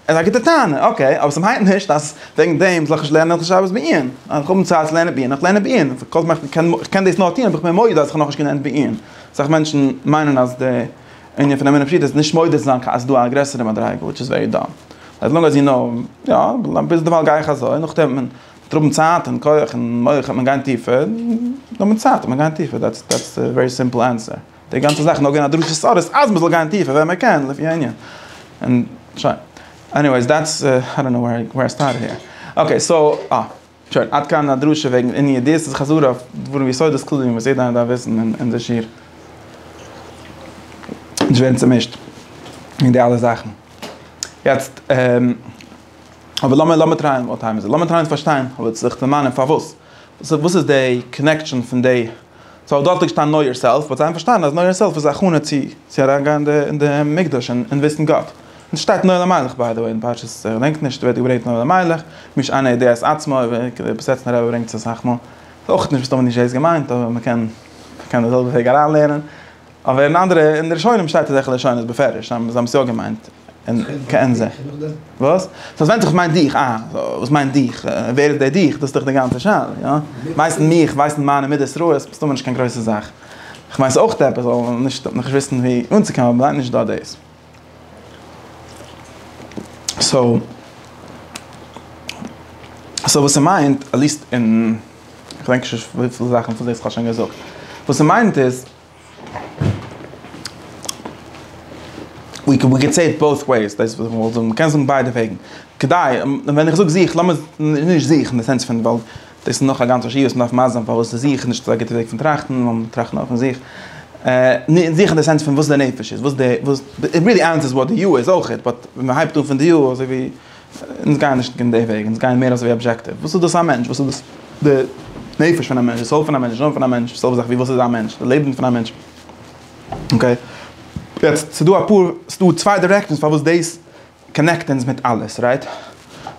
איז א גוטע טענה, אקעי, אבער ס'מיינט נישט אז וועגן דעם זאל איך נישט לערנען הלכות שבת בעיון. אז איך האב נישט צייט צו לערנען בעיון, איך לערן בעיון. כל זמן איך קען, איך קען דאס נאר טון אויב איך בין מודה אז איך האב נאכנישט געלערנט בעיון. אסאך מענטשן מיינען אז די ענין פון אמונה פשוטה איז נישט מודה צו זיין אז ס'דא א גרעסערע מדריגה, וויטש איז ווערי דאם. עז לאנג עז יו נאו, יא, ביז דערווייל גיי איך אזוי, נאכדעם ווען מ'וועט האבן צייט און כח און מח וועט מען גיין טיפער, נאר מיט צייט וועט מען גיין טיפער, דעטס דעטס די ווערי סימפל ענסער. די גאנצע זאך נאר געווען א דרשת סארס אז מ'זאל גיין טיפער ווען מ'קען לפי הענין. און שוין. עניוועיס דעטס איי דאנט נאו ווער איי ווער סטארטעד העיר. אקעי סאו אה. שוין עד כאן א דרשה וועגן עניו דיס איז חזרה אויף דברים יסודות כלליים וואס יעדער איינער דארף וויסן און און די שיעור. נישט ווערן צומישט אין די אלע זאכן. יעצט אבער לאמיר לאמיר טרייען וואט טיים איז איט? לאמיר טרייען צו פארשטיין אבער זיך דערמאנען פארוואס. וואס איז די קאנעקשאן פון די סאו דארט האט געשטאנען נאו יאר סעלף, באט זיי האבן פארשטאנען אז נאו יאר סעלף איז א הכנה צו צו אריין גיין אין די מקדש און און וויסן גאט. און עס שטייט נאו אלימלך ביי די וועי אין פרשת איך געדענק נישט ווערט געברענגט נאו אלימלך, מי שאינו יודע את עצמו, בסעטמער רבי ברענגט עס אסאך מאל, איך ווייס אויך נישט וואס טאמער נישט דאס געמיינט אבער מען קען מען קען די זעלבע וועג אריין לערנען. אבער אין אנדערע אין די ראשונים שטייט אז היכל עשון איז בפירוש, זיי האבן עס יא געמיינט, און כעין זה. וואס? סאו עס ווענדט זיך וואס מיינט דיך, אה, וואס מיינט דיך, ווער איז דער דיך, דאס איז דאך די גאנצע שאלה, יא? ווייסן מיך, ווייסן מיינע מידות רעות איז מסתמא נישט קיין גרויסע זאך, כ'מיין ס'איז אויך עפעס, אבער נישט דארט, נישט וויסן ווי אנצוקומען, אבער מ'מיינט נישט דא דאס. סאו סאו וואס ס'מיינט, עטליסט אין, כ'דענק נישט וויפיל זאכן פון דאס כ'האב שוין געזאגט, וואס ס'מיינט איז, ווי קען ווי סעיט בויס וועיס דאס איז וואס איך וויל זאגן מ'קען זאגן ביידע וועגן כדי ווען איך זאג זיך לאמיר נישט זיך אין די סענס פון ווייל דאס איז נאך א גאנצע שיעור וואס מ'דארף מסביר זיין פארוואס איז זיך נישט אזא גוטע וועג פון טראכטן נאר מ'זאל טראכטן אויף פון זיך זיך אין די סענס פון וואס די נפש איז וואס די וואס די ווילי ענס איז וואט די יו איז אויכעט באט ווען מ'הייבט אן פון די יו אזוי ווי אונז גייען נישט אין די וועג, אונז גייען מער אזוי ווי אבזשעקטיוו, וואס איז דאס א מענטש, וואס איז דאס די נפש פון א מענטש, די סאול פון א מענטש, די נשמה פון א מענטש, די זעלבע זאך ווי וואס איז א מענטש, די לעבן פון א מענטש. אקעי. יעצט, ס'דא אפאר, ס'דא צוויי דירעקשאנס פארוואס דאס קאנעקט אונז מיט אלעס, רייט?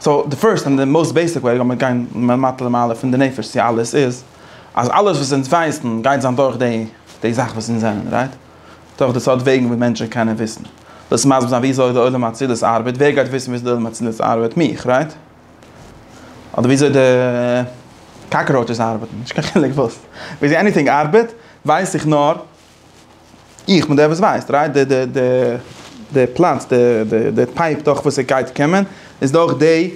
סאו, די פירסט און די מאוסט בעיסיק וועג, לאמיר גיין מלמטה למעלה, פון די נפש צו אלעס, איז אז אלעס וואס אונז ווייסן גייט זיין דורך די זאך וואס אונז זענען, רייט? דורך די סארט וועגן ווי מענטשן קענען וויסן. דאס מסביר זיין וויאזוי די עולם האצילות ארבעט, ווער גייט וויסן וויאזוי די עולם האצילות ארבעט? מיך, רייט? אדער וויאזוי די קאקראוטשעס ארבעטן? נישט קיין חילוק וואס. וויאזוי עניטינג ארבעט ווייס איך נאר איך בין דער וואס ווייסט, רייט? די די די די פלאץ, די די די פייפ דורך וואס עס גייט קומען, איז דורך די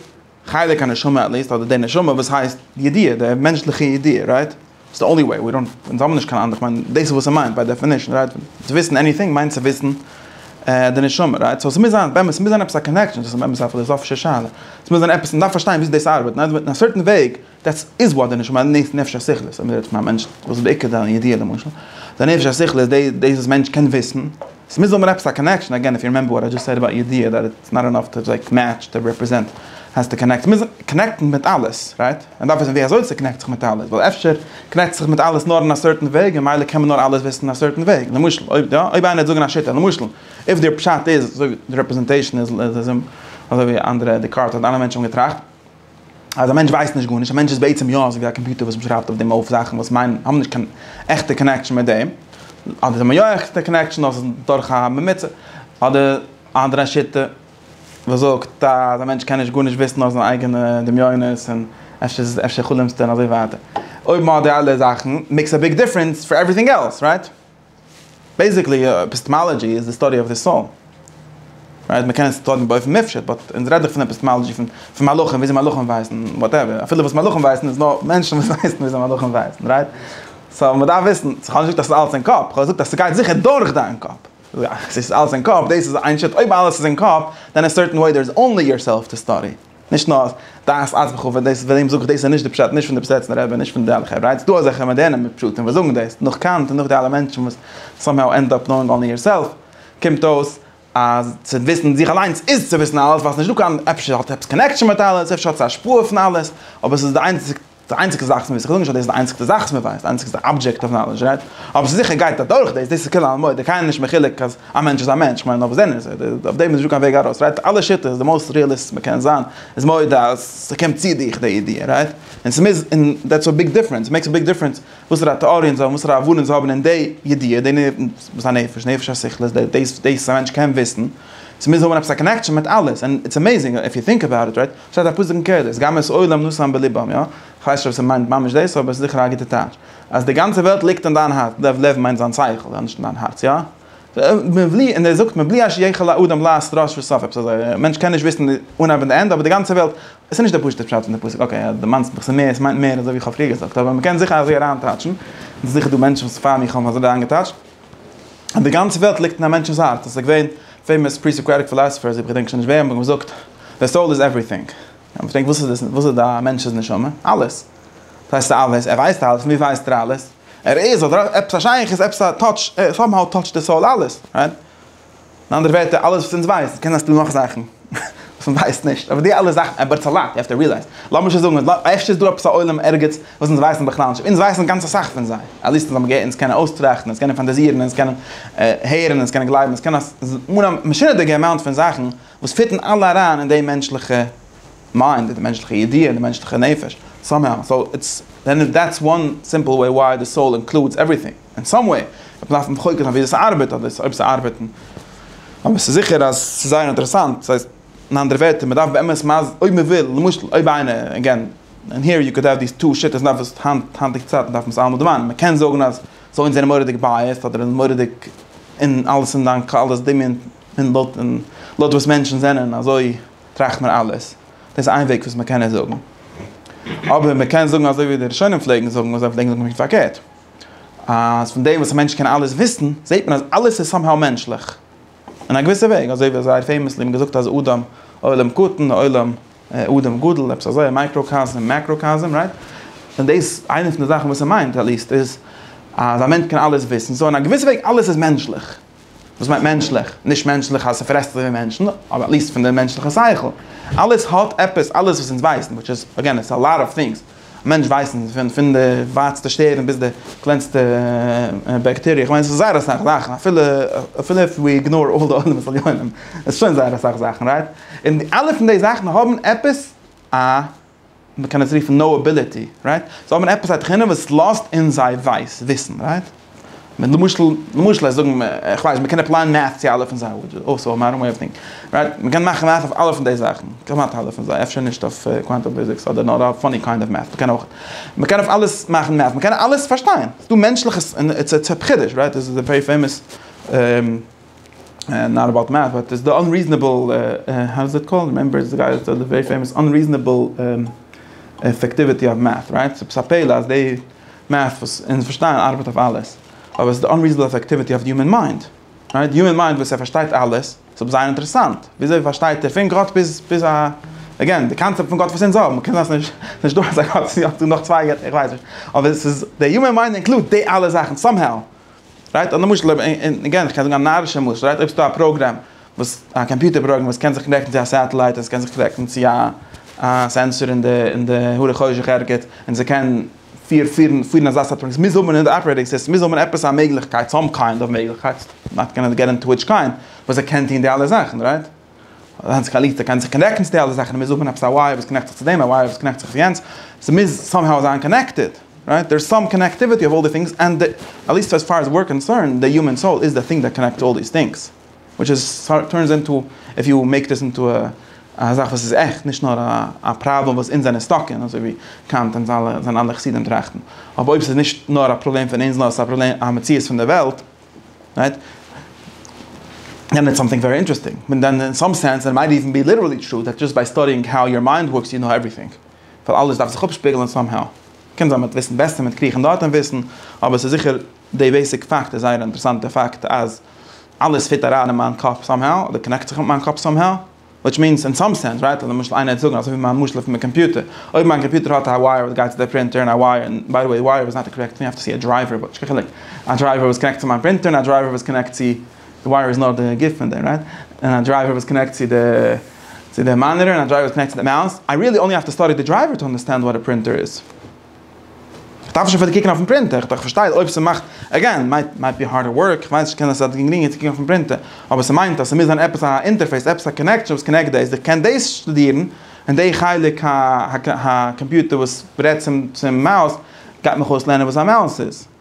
חלק הנשמה עליסט אדער די נשמה וואס הייסט די ידיעה די מענטשליכע ידיעה רייט איז די אנלי וועי אונז האבן נישט קיין אנדערע כ'מיין דאס איז וואס ער מיינט ביי דעפענישן רייט צו וויסן עניטינג מיינט צו וויסן די נשמה רייט סאו ס'מוז זיין באמת ס'מוז זיין עפעס א קאנעקשאן דאס איז באמת א פילאזאפישע שאלה ס'מוז זיין עפעס מ'דארף פארשטיין וויאזוי דאס ארבעט ניין און א סערטען וועג דעטס איז וואט די נשמה נעסט נפש השכלית אז מ'רעדט פון א מענטש וואס איז בעיקר זיין ידיעה למשל די נפש השכלית איז די דאס וואס מענטש קען וויסן עס מוז האבן עפעס א קאנעקשאן עגעין איף יו רימעמבער וואט איי דזשאסט סעד עבאוט ידיעה דעט איטס נאט אינאף טו לייק מעטש די רעפרעזענט העז טו קאנעקט מוז קאנעקטן מיט אלעס רייט מען דארף וויסן ווי אזוי ס'קאנעקט זיך מיט אלעס ווייל אפשר קאנעקט זיך מיט אלעס נאר אין א סערטען וועג און מילא קען מען נאר אלעס וויסן אין א סערטען וועג למשל אויב יא אויב איינער וועט זאגן א שיטה למשל איף דער פשט איז אזוי ווי די רעפרעזענטעישאן איז אזוי ווי אנדערע דעקארט האט אלע מענטשן האבן געטראכט אז א מענטש ווייסט נישט גארנישט, א מענטש איז בעצם יא אזויווי א קאמפיוטער וואס מ'שרייבט אויף דעם אויף זאכן וואס מיינען האבן נישט קיין עכטע קאנעקשאן מיט דעם, אדער זיי האבן יא עכטע קאנעקשאן נאר ס'איז דורך א ממוצע, אדער א אנדערע שיטה וואס זאגט אז א מענטש קען נישט גארנישט וויסן נאר זיינע אייגענע דמיונות און אפשר איז עס אפשר חלומ'סטו און אזוי ווייטער. אויב מ'האט די אלע זאכן, מעיקס א ביג דיפרענס פאר עווריטינג עלס, רייט? בעיסיקלי עפיסטעמאלאדזשי איז די סטאדי אוו די סאול, רייט? מען קען עס טון באופן מופשט, באט אונז רעדט דאך פון עפיסטעמאלאדזשי פון פון מלאכים, וויאזוי מלאכים ווייסן, וואטעווער, אפילו וואס מלאכים ווייסן איז נאר מענטשן וואס ווייסן וויאזוי מלאכים ווייסן, רייט? סאו מען דארף וויסן, איך האב נישט געזאגט אז ס'איז אלעס אין קאפ, איך האב געזאגט אז ס'גייט זיכער דורך דיין קאפ, ס'איז אלעס אין קאפ, דאס איז איין שיטה, אויב אלעס איז אין קאפ, דען אין סערטען וועי דער איז אנלי יורסעלף טו סטאדי. נישט נאר דעת ארץ וכו' ווען דאס ווען זאג איך דאס איז נישט די פשט נישט פון די פסעצנער רבי נישט פון די אלע חברה איז דא אזעלכע מאדערנע מפשטים וואס זאגן דאס נאך קאנט און נאך די אלע מענטשן וואס סאמהאו ענד אפ נאוינג אנלי יור סעלף קומט אויס אז צו וויסן זיך אליינס איז צו וויסן אלעס ווייל ס'נישט דא קיין אפשר האט עפעס קאנעקשאן מיט אלעס אפשר האט עס השפעה פון אלעס אבער ס'איז די איינציגסטע די איינציגסטע זאך וואס מ'וויסט, איך זאג נישט אז דאס איז די איינציגסטע זאך וואס מ'ווייסט, די איינציגסטע אבדזשעקט אוו נאלעדזש, רייט? אבער ס'זיכער גייט אדורך דאס, דאס איז כלל המועד, דער קאין איז נישט מחולק אז א מענטש איז א מענטש, כ'מיין אויף דעם איז ער, אויף דעם איז נישטא קיין וועג ארויס, רייט? אלע שיטות, די מאוסט ריעליסט וואס מ'קען זיין, איז מודה אז ס'קומט צו דיך די ידיעה, רייט? און ס'מוז, און דעטס א ביג דיפרענס, מעקס א ביג דיפרענס וואסערע טעאריען זיי האבן, וואסערע הבנות זיי האבן אין די ידיעה, די וואס א נפש, נפש השכל איז דאס וואס א מענטש קען וויסן, ס'מוז האבן עפעס א קאנעקשאן מיט אלעס, און איטס עמעיזינג איף יו טינק אבאוט איט, רייט? שטייט א פסוק אין קהלת, גם את עולם נשאם בלבם, יא? כ'ווייס נישט אויב ס'מיינט ממש דאס, אבער ס'זיכער א גוטע טייטש. אז די גאנצע וועלט ליגט אין דיין הארץ, לב, לב מיינט זיין שכל, יא? נישט אין דיין הארץ, יא? מבלי, און ער זאגט מבלי אש יכל האדם לעת ראש וסוף, עפעס אזוי, א מענטש קען נישט וויסן די אנהייב און די ענדע, אבער די גאנצע וועלט, עס איז נישט דער פשוט'ער פשט פון די פסוק, אקעי, אז דו מיינסט מיך, ס'איז מער, ס'מיינט מער, אזוי ווי כ'האב פריער געזאגט, אבער מ'קען זיכער אזוי אריינטייטשן, און ס'איז זיכער דא מענטשן וואס פאר מיר האבן אזוי אריינגעטייטשט. און די גאנצע וועלט ליגט אין א מענטשנ'ס הארץ, עס איז געווען פעימאס פרי-סאקראטיק פילאסעפערס, איך געדענק שוין נישט וועם, האבן געזאגט, די סאול איז עווריטינג. איך האב געפרעגט, וואס איז דאס, וואס איז א מענטש'ס נשמה? אלעס. וואס הייסט אלעס? ער ווייסט אלעס, פון וואו ווייסט ער אלעס? ער איז, אדער עפעס א שייכות, עפעס א טאטש, סאמהאו טאטשט די סאול אלעס, רייט? אין אנדערע ווערטער, אלעס וואס אונז ווייסט, קען זיין ס'דא נאך זאכן וואס מען ווייסט נישט, אבער די אלע זאכן, אבער איטס א לאט, יו העוו טו רילייז, לאמיר שוין זאגן, אפשר איז דא עפעס א עולם ערגעץ וואס אונז ווייסן בכלל נישט, אונז ווייסן גאנץ אסאך פון זיי, עטליעסט אונז האבן געהערט, אונז קענען אויסטראכטן, אונז קענען פאנטאזירן, אונז קענען הערן, אונז קענען גלייבן, אונז קענען אן א משונה'דיגע אמאונט פון זאכן וואס פיטן אלע אריין אין די מענטשליכע מיינד, אין די מענטשליכע ידיעה, אין די מענטשליכע נפש, סאמהאו, סאו, איטס, דעטס וואן סימפל וועי וויי די סאול אינקלודס עווריטינג. אין סאם וועי, וועט מען דארפן מחוקק זיין וויאזוי ס'ארבעט אדער אויב ס'וועט ארבעטן, אבער ס'איז זיכער אז ס'איז זייער אינטערעסאנט, ס'הייסט אין אנדערע ווערטער מ'דארף באמת מ ז אויב מ'וויל, למשל אויב איינער, עגעין, און היער יו קאוד עד דיס טו שיטות נאר וואס היינט היינטיגע צייטן דארף מען עס אלעמאל דערמאנען, מ'קען זאגן אז סאו אונז זענען מורא'דיג בייעסד אדער מורא'דיג אין אלעס אין דיין קו אלעס דמיון און לויט און לויט וואס מענטשן זענען אזוי טראכט מען אלעס, דאס איז איין וועג וואס מ'קען עס זאגן, אבער מ'קען זאגן אזוי ווי די ראשונים פלעגן זאגן און זיי פלעגן זאגן פונקט פארקערט. אז פון דעם וואס א מענטש קען אלעס וויסן, זעט מען אז אלעס איז סאמהאו מענטשליך. אין א געוויסע וועג. אזוי ווי זייער פעימעסלי האט מען געזאגט אז אדם עולם קטן ועולם אדם גדול, עפעס אזוי, א מייקראקאזם און מעקראקאזם, רייט? און דאס, איינע פון די זאכן וואס ער מיינט, עטליעסט, איז אז א מענטש קען אלעס וויסן. סאו אין א געוויסע וועג, אלעס איז מענטשליך. וואס מיינט מענטשליך? נישט מענטשליך אז ס'פרעסט אזויווי מענטשן, אבער עט ליעסט פון די מענטשליכע שכל. אלעס האט עפעס, אלעס וואס אונז ווייסן, וויטש איז, אגעין, איטס א לאט אוו טינגס. א מענטש ווייסן פון פון די ווייטסטע שטערן ביז די קלענסטע בעקטעריע, כ'מיין ס'איז זייער אסאך זאכן, אפילו אפילו איף ווי איגנאר אלל די עולמות עליונים, איז שוין זייער אסאך זאכן, רייט? און אלע פון די זאכן האבן עפעס א מען קען עס רופן נאובילעטי, רייט? זיי האבן עפעס א תכונה וואס לאזט אין זיי ווייס וויסן, רייט? מען למשל, למשל לאז זאגן מע, כ'ווייס, מען קען עפלייען מעטס צו אלע פון זיי, וויטש איז אויסא מאדערן וועי אוו טינק, רייט? מען קען מאכן מעטס אויף אלע פון די זאכן, כמעט אלע פון זיי, אפשר נישט אויף קוואנטום פיזיקס אדער נאר אויף פאני קיינד אוו מעטס, מען קען אויך, מען קען אויף אלעס מאכן מעטס, מען קען אלעס פארשטיין, ס'איז דא מענטשליכע, און איטס א חידוש, רייט? דאס איז א ווערי פעימאס. נאט אבאוט מעט באט איז די אנריזענעבל האו איז איט קאלד רעמעמבער איז גייער צו די ווערי פעימאס אנריזענעבל אפעקטיוויטי אוו מעט רייט ס'איז א פלא אז די מעט וואס אונז פארשטייען ארבעט אויף אלעס אבער ס'איז די אנריזענעבל אפעקטיוויטי אוו די הומען מיינד רייט די הומען מיינד וואס ער פארשטייט אלעס ס'איז אבער זייער אינטערעסאנט וויאזוי פארשטייט ער פון גאט ביז ביז א אגעין די קאנצעפט פון גאט וואס אונז האבן קען זיין ס'נישט דא אזא גאט ס'איז יא דא נאך צוויי געטער איך ווייס נישט אבער ס'איז די הומען מיינד אינקלוד די אלע זאכן סאמהאו רייט א למשל אויב אין אגעין איך קען זאגן א נארישע משל רייט אויב ס'דא א פראגרעם וואס א קאמפיוטער פראגרעם וואס קען זיך קנעקטן צו א סעטעלייט און ס'קען זיך קנעקטן צו א א סענסאר אין די אין די הרי חושך ערגעץ און ס'קען פיר פירן פירן אזא סארט פראגרעם ס'מוז האבן אין די אפערעיטינג סיסטעם מוז האבן עפעס א מעגליכקייט סאם קיינד אוו מעגליכקייט נאט גאנע געט אינטו וויטש קיינד וואס ער קען טון די אלע זאכן רייט. היינט קאלירט ער קען זיך קאנעקטן צו די אלע זאכן מ'מוז האבן עפעס א ווייער וואס קאנעקט זיך צו דעם א ווייער וואס קאנעקט זיך צו יענץ ס'מוז סאמהאו זיין קאנעקטעד רייט דער איז סאם קאנעקטיוויטי אוו אלל די טינגס ענד די עטליסט עז פאר עז וויר קאנסערנד די יומען סאול איז די טינג דעט קאנעקטס אלל דיס טינגס וויטש איז טורנס אינטו איף יו מעיק דיס אינטו א זאך וואס איז עכט נישט נאר א פראבלעם וואס אונז זענען סטאק אין אזוי ווי קאנט און זיינע אלע חסידים טראכטן אבער אויב ס'איז נישט נאר א פראבלעם פון אונז נאר ס'איז א פראבלעם א מציאות פון די וועלט. רייט? און איטס סאמטינג ווערי אינטערעסטינג, און דען אין סאם סענס איט מייט איווען בי ליטערלי טרו דעט דזשאסט ביי סטאדיאינג האו יור מיינד ווארקס יו קנאו עווריטינג, ווייל אלעס דארף זיך אפשפיגלען סאם האו. קען זיין מיט וויסן בעסער, מיט קריכן דארט און וויסן, אבער ס'איז זיכער די בעיסיק פאקט איז זייער אינטערעסאנט, די פאקט אז אלעס פיט אריין אין מיין קאפ סאם האו, אדער קאנעקט זיך מיט מיין קאפ סאם האו. וויטש מינס אין סאם סענס רייט למשל איינער וועט זאגן אזוי ווי מיין משל פון די קאמפיוטער אויב מיין קאמפיוטער האט א ווייער וואס גייט צו די פרינטער און א ווייער און ביי די וועי ווייער איז נאט א קארעקט ווייער צו א דרייווער וויטש קיין חילוק א דרייווער וואס קאנעקט צו מיין פרינטער און א דרייווער וואס קאנעקט צו די ווייער איז נאר די גוף פון דעם רייט און א דרייווער וואס קאנעקט צו די צו די מאניטער און א דרייווער וואס קאנעקט צו די מאוס איי ריעלי אנלי האוו טו סטאדי די דרייווער טו אנדערסטענד וואט א פרינטער איז. איך דארף נישט אויף די קוקן אויפן פרינטער, איך פארשטיי אויב ס'מאכט, עגעין, מייט מייט בי הארדער ווארק, איך ווייס כ'קען עס אז גרינגער צו קוקן אויפן פרינטער, אבער ס'מיינט אז ס'מוז זיין עפעס א אינטערפעיס, עפעס א קאנעקשאן וואס קאנעקט דאס, איך קען דאס שטודירן, און די חלק הקאמפיוטער וואס רעדט צום צום מאוס, גייט מיך אויסלערנען וואס א מאוס איז.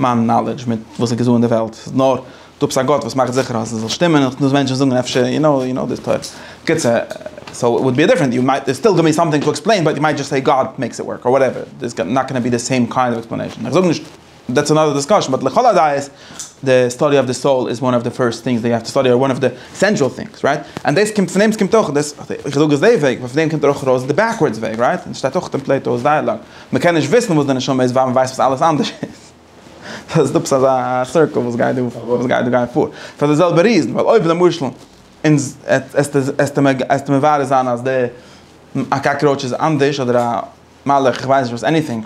מיין נאלעדזש מיט וואס איז געזאגן אין די וועלט איז נאר דא עפעס א גאט וואס מאכט זיכער אז עס זאל שטימען און דאס מענטשן זאגן אפשר יו נאו יו נאו דיס טויט קיצור סאו איט וואלד בי דיפרענט יו מייט סטיל גיוו מי סאמטינג טו עקספלעין באט יו מייט דזשאסט סעי גאד מעיקס איט ווארק אר וואטעווער דער איז נאט גאנא בי די סעים קיינד אוו עקספלענעישן איך זאג נישט דעטס אנאדער דיסקאשן באט לכל הדעות די סטאדי אוו די סאול איז וואן אוו די פירסט טינגס דעי האוו טו סטאדי אר וואן אוו די עסענשאל טינגס רייט ענד דעס קומט פון דעם עס קומט אויך דאס איך זאג עס דעי וועג ווייל פון דעם קומט ער אויך ארויס די בעקווארדס וועג רייט און עס שטייט אויך אין פלעיטאוס דייעלאג. מ'קען נישט וויסן וואס די נשמה איז ווייל מ'ווייסט וואס אלעס אנדערש איז. סאו ס'איז דא עפעס אזא סירקל וואס גייט דא וואס גייט דא גייט פאר. פאר די זעלבע ריזן ווייל אויב למשל אונז עסטו מברר זיין אז די א קאקראוטש איז אנדערש אדער א מלאך איך ווייס נישט וואס עניטינג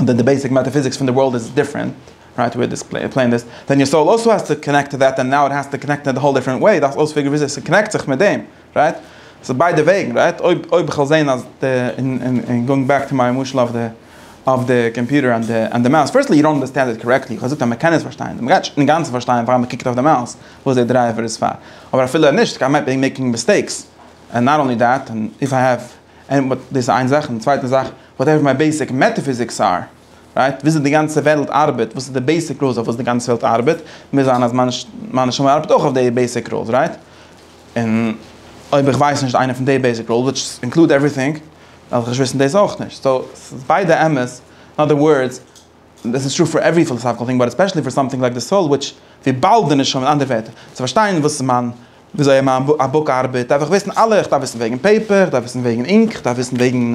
אדער די בעיסיק מעטאפיזיקס פון די ווארלד איז דיפרענט רייט וויל דיס עקספלעין דיס ווען יור סאול אלסא האס טו קאנעקט טו דעט און נאו איט האס טו קאנעקט אין א האול דיפרענט וועי דארפסט אויספיגערן וויאזוי ס'קאנעקט זיך מיט דעם. רייט? ס'איז ביידע וועגן, רייט? אויב אויב כ'וועל זעהן אז די און און און גאוינג בעק טו מיין משל אויף די אויף די קאמפיוטער און די און די מאוס, פירסטלי יו דאנט אנדערסטענד איט קארעקטלי, כ'האב געזאגט אז מ'קען עס פארשטיין, מ'גייט נישט אינגאנצן פארשטיין פאר מ'קוקט אויף די מאוס וואס די דרייווער איז פאר, אבער אפילו נישט כ'מיין מעיבי מעקינג מיסטעיקס, און נאט אנלי דעט, און איף איי העוו עני באט דאס איז איין זאך, און די צווייטע זאך וואט עווער מיי בעיסיק מעטאפיזיקס אר, רייט? וויאזוי די גאנצע וועלט ארבעט, וואס איז די בעיסיק רולס אויף וואס די גאנצע וועלט ארבעט, מוז זיין אז מיין מיין נשמה ארבעט אויך אויף די בעיסיק רולס, רייט? און אויב איך ווייס נישט איינע פון די בעיסיק רולס, וויטש אינקלוד עווריטינג, דארף איך נישט וויסן דאס אויך נישט. סאו, ס'איז ביידע אמת. אין אדער ווארדס, דאס איז טרו פאר עוורי פילאסאפיקעל טינג, באט עספעשעלי פאר סאמטינג לייק די סאול, וויטש וויבאלד די נשמה, אין אנדערע ווערטער, צו פארשטיין וואס איז מיין, וויאזוי מיין א בוק ארבעט, דארף איך וויסן אלע, איך דארף וויסן וועגן פעיפער, איך דארף וויסן וועגן אינק, איך דארף וויסן וועגן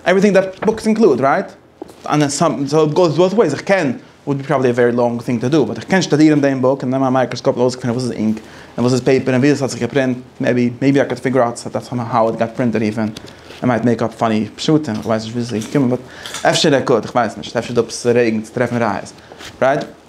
עווריטינג דעט בוקס אינקלוד, רייט? און עס גאוס בויז וועיס, איך קען, וואלד בי פראבעלי א ווערי לאנג טינג טא דא, באט איך קען שטודירן דעם בוק און נעמען א מייקראסקאפ און אויסקפינען וואס איז אינק און וואס איז פעיפער און ווי עס האט זיך געפרינט, מעיבי מעיבי איי קען פיגור אוט דעט סאם האו איט גאט פרינטעד איווען איי מייט מעיק אפ פאני פשטים, איך ווייס נישט ווי אזוי ס'איז געקומען באט אפשר ער קאוד, איך ווייס נישט, אפשר איז דא עפעס א וועג צו טרעפן ראיות, רייט?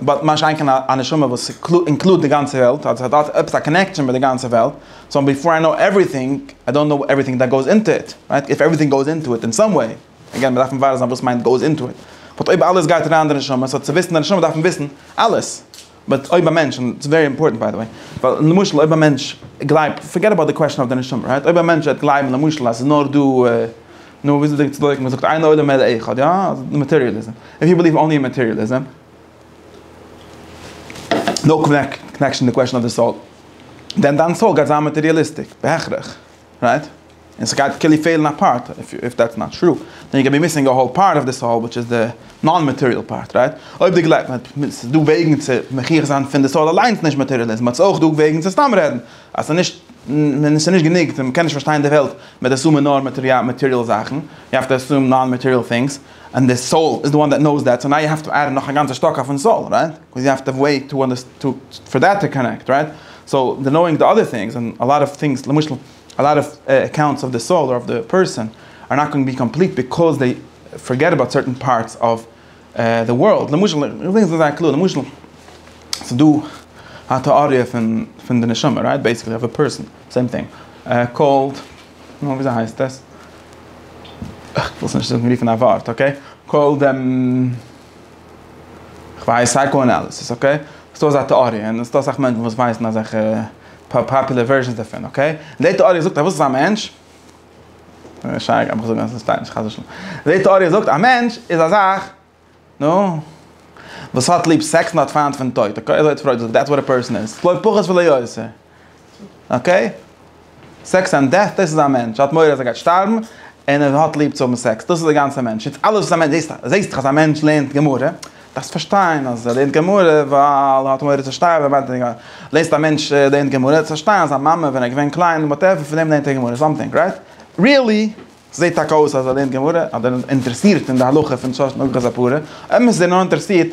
באט מה שאין כן א נשמה וואס אינקלוד די גאנצע וועלט, אז ס'האט אלץ עפעס א קאנעקשאן מיט די גאנצע וועלט, סאו ביפאר איי קנאו עווריטינג, איי דאנט קנאו עווריטינג דעט גאוס אינטא איט, רייט? איף עווריטינג גאוס אינטא איט אין סאם וועי, אגעין מיר דארף מברר זיין וואס מיינט גאוס אינטא איט, באט אויב אלעס גייט אריין אין די נשמה, סאו צו וויסן די נשמה דארף מען וויסן אלעס, באט אויב א מענטש, און ס'איז ווערי אימפארטענט ביי די וועי, ווייל למשל אויב א מענטש גלייבט, פארגעט אבאוט די קוועסטשאן אויף די נשמה, רייט? אויב א מענטש וועט גלייבן למשל אז ס'איז נאר דא. נו וואס איז די צדקה? מען זאגט אין עולם אלא אחד, יא? אז מאטעריעליזם. איף יו בעליוו אנלי אין מאטעריעליזם. נאו קאנעקשאן די קוועשאן אוו די סאול. דען דיין סאול גייט זיין מאטעריעליסטיק. בהכרח. רייט? און ס'גייט כאילו פעלן א פארט. איף דעטס נאט טרו. דען יו קען בי מיסינג א האול פארט אוו די סאול וויטש איז די נאן מאטעריעל פארט. רייט? אויב די גלייבסט אז ס'איז דא וועגן צו מוכיח זיין פון די סאול אליינס נישט מאטעריעליזם. אט ס'איז אויך דא וועגן צו סתם רעדן. אז ס'איז נישט, און ס'איז נישט גענוג, און מ'קען נישט פארשטיין די וועלט מיט אסאמע נאר מאטעריאל זאכן, יו העוו טו אסום נאן מאטעריאל טינגס, און די סאול איז די וואן דעט נאוס דעט, סאו נאו יו העוו טו עד נאך א גאנצע שטאק אויפן סאול, רייט? קאוז יו העוו טו וועי טו אנדערסטענד פאר דעט טו קאנעקט, רייט? סאו די נאוינג די אדער טינגס, און א לאט אוו טינגס, למשל א לאט אוו אקאונטס אוו די סאול אדער אוו די פערסאן, אר נאט גאוינג בי קאמפליט ביקאוז דעי פארגעט אבאוט סערטען פארטס אוו די ווארלד, למשל, איך זאג עס זייער קלאר, למשל, ס'איז דא א טעאריע פון די נשמה, רייט? בעיסיקלי אויף א פערסאן, סעים טינג, קאלד, נו, וויאזוי הייסט עס? איך וויל עס נישט זאגן רופן א ווארט, אקעי? קאלד, כ'ווייס, סייקא-אנאליסיס, אקעי? ס'דא אזא טעאריע, און ס'דא אסאך מענטשן וואס ווייסן אזעלכע פאפולער ווערזשאנס דערפון, אקעי? און די טעאריע זאגט אז וואס איז א מענטש? שייגעץ איך האב געזאגט אז עס שטייט נישט חס ושלום. די טעאריע זאגט א מענטש איז א זאך נו וואס האט ליב סעקס און האט פיינט פון טויט אקעי אזוי האט פרויד געזאגט דעטס וואט א פערסאן איז לא פחות ולא יותר אקעי סעקס און דעט דאס איז א מענטש ער האט מורא אז ער גייט שטארבן און ער האט ליב צו האבן סעקס דאס איז די גאנצע מענטש איז אלעס וואס א מענטש זעהסט זעהסט אז א מענטש לערנט גמרא. דארפסט פארשטיין אז ער לערנט גמרא ווייל ער האט מורא צו שטייען ווען מיינט ער לעזט א מענטש לערנט גמרא דארפסט פארשטיין אז זיין מאמע ווען ער איז געווען קליין און וואטעווער פון דעם לערנט ער גמרא סאמטינג רייט ריעלי זעהט טאקע אויס אז ער לערנט גמרא אדער איז אינטערעסירט אין די הלכה פון שש נגח זיי פרה אמת איז ער נאר אינטערעסירט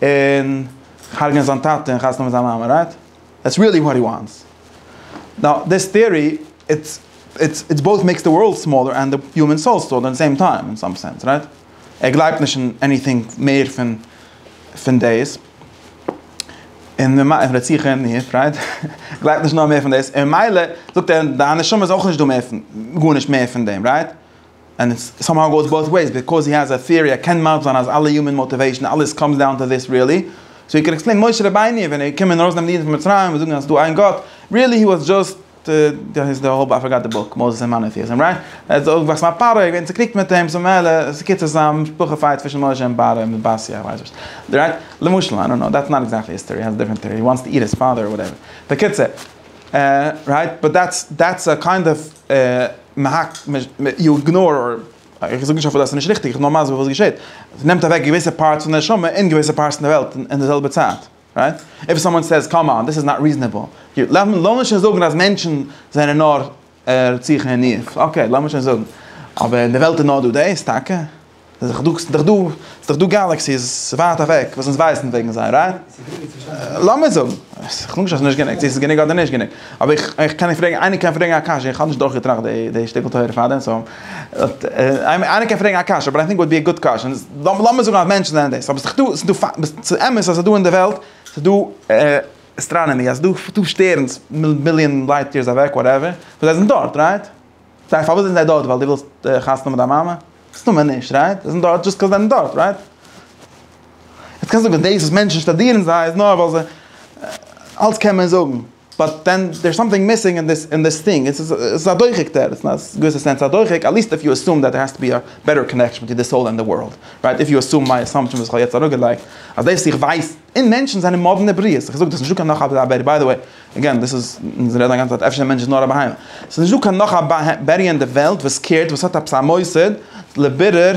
אין הרג'נען זיין טאטע און חתונה מיט זיין מאמע רייט דעטס ריעלי וואט הי וואנטס נאו דיס טעארי איטס איטס איטס בויט מעיקס די ווארלד סמאלער ענד די הומען סאול סאו אט די סעים טיים אין סאם סענס רייט. ער גלייבט נישט אין עניטינג מער פון פון דאס, און ממ און רציחה און מרד, רייט? גלייבט נישט נאך מער פון דאס, און מילא זאגט ער דיין נשמה איז אויך נישט דא מער פון גארנישט מער פון דעם, רייט? ענד איטס סאמהאו גאוס באוט וועיס, ביקאוז הי העז א טיארי ער קען מסביר זיין אז אלע יומען מאטיוועישן אלעס קאמס דאון טו דיס ריעלי, סאו ער קען עקספלעינען משה רבינו ווען ער איז געקומען ארויסנעמען די אידן פון מצרים און זאגן אז ס'איז דא איין גאט, ריעלי הי וואס דזשאסט. דאס איז די האב איי פארגאט די בוק, מאוזעס און מאנאטיעזים רייט? ער האט זיך אויפגעוואקסן מיט א פרעה, איז געווען צוקריגט מיט אים, סאו ממילא ס'קיצור ס'איז א משפחה פייט צווישן משה און פרעה און באסי איך ווייס וואס רייט? למשל איי דאנט נאו דעטס נאט עקזעקטלי היסטערי האס דיפרענט טעארי וואנטס טו איט היז פאדער אר וואטעווער בקיצור רייט באט דעטס דעטס א קיינד אוו מהק יו איגנאר אר איך זאג נישט אפילו אז ס'נישט ריכטיג איך נאר מסביר וואס געשעהט ס'נעמט אוועק געוויסע פארטס פון די נשמה און געוויסע פארטס פון די וועלט און די זעלבע צייט. רייט? איף סאמאן סעיז קאם אן דיס איז נאט ריזענעבל, גוט לאמיר שוין זאגן אז מענטשן זענען נאר רציחה און ניאוף, אקעי לאמיר שוין זאגן, אבער אין די וועלט איז נאר דא דאס טאקע? ס'איז דאך דא ס'איז דאך דא גאלעקסיס ווייט אוועק וואס אונז ווייסן וועגן זיי רייט? לאמיר זאגן, כ'זאג נישט אז ס'נישט גענוג, צו ס'איז גענוג אדער נישט גענוג, אבער איך קען פרעגן, איינער קען פרעגן א קשיא, איך האב נישט דורכגעטראכט די שטיקל תורה פארדעם סאו. איינער קען פרעגן א קשיא, באט איי טינק איט וואלט בי א גוד קוועשאן, לאמיר זאגן אז מענטשן זענען דאס, אבער ס'איז דאך דא, ס'איז אמת אז ס'איז דא אין די וועלט, ס'איז דא אסטראנאמי, אז ס'איז דא שטערנס מיליאן לייט יערס אוועק, וואטעווער, און זיי זענען דארט, רייט? זיי, פארוואס זענען זיי דארט? ווייל דו ווילסט חתונה מיט דיין מאמע? מסתמא נישט, רייט? זיי זענען דארט דזשאסט קאוז זיי זענען דארט, רייט? יעצט קענסטו זאגן דאס וואס מענטשן שטאדירן זיי איז נאר ווייל זיי, אלץ קען מען זאגן. באט דען דער איז סאמטינג מיסינג אין דיס אין דיס טינג, עס איז א דוחק דער, אין א געוויסע סענס א דוחק, עט ליעסט איף יו עסום דעט דער האסט טו בי א בעטער קאנעקשאן ביטווין די סאול ענד די ווארלד, רייט? איף יו עסום מיי עסאמפשאן וואס איך האב יעצט אראפגעלייגט, אז דאס איך ווייס אין מענטשן זענען מאדנע בריות, איך זאג דאס נישטא קיין נאך א בערי ביי די וועי, אגעין דאס איז אונז רעדן א גאנצע צייט אפשר מענטש איז נאר א בהמה, עס איז נישטא קיין נאך א בערי אין די וועלט וואס קערט וואס האט עפעס א מוסד לבירור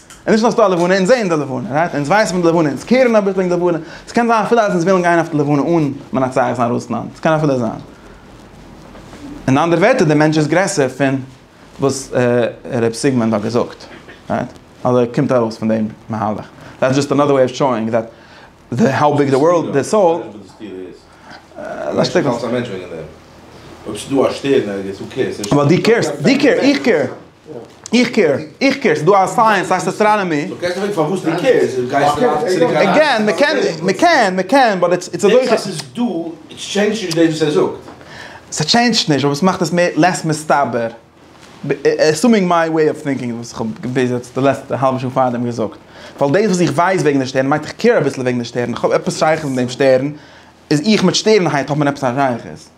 און נישט נאר ס'דא א לבנה, אונז זעען די לבנה, רייט? אונז ווייסן פון די לבנה, אונז קערן א ביסל אין די לבנה, ס'קען זיין אפילו אז אונז ווילן גיין אויף די לבנה אן מנצח זיין רוסלאנד, ס'קען אפילו זיין. אין אנדערע ווערטער, דער מענטש איז גרעסער פון וואס ר' סיגמונד האט געזאגט, רייט? אדער קומט ארויס פון דעם מהלך. דעטס דזשאסט אנאדער וועי אוו שאואינג דעט. די האו ביג די ווארלד די סאול.
אבער דו קעירסט דו קעיר
איך קעיר איך קעיר איך קעיר ס'דא א סייענס ס'הייסט אסטראנאמי. עגעין
מ'קען
מ'קען מ'קען באט איטס איטס
אזוי. ס'טשעינדזשט
נישט אבער ס'מאכט עס מער לעס מסתבר. עסומינג מיי וועי אוו טינקינג וואס איך האב ביז יעצט די לעצטע האלבע שעה פארדעם געזאגט, ווייל דאס וואס איך ווייס וועגן די שטערן מיינט איך קעיר אביסל וועגן די שטערן, איך האב עפעס שייכות מיט דעם שטערן, איז איך מיט שטערנהייט האט מען עפעס א שייכות?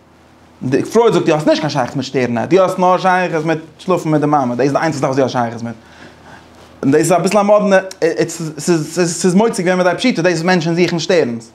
די פרויד זאגט דו האסט נישט קיין שייכות מיט שטערנהייט, דו האסט נאר שייכות מיט שלאפן מיט די מאמע, דאס איז די איינציגסטע זאך וואס דו האסט שייכות מיט, און דאס איז אביסל א מאדנע, ס'איז מוצק ווען מ'דרייט פשיטא, דאס איז מענטשן זוכן שטערנס.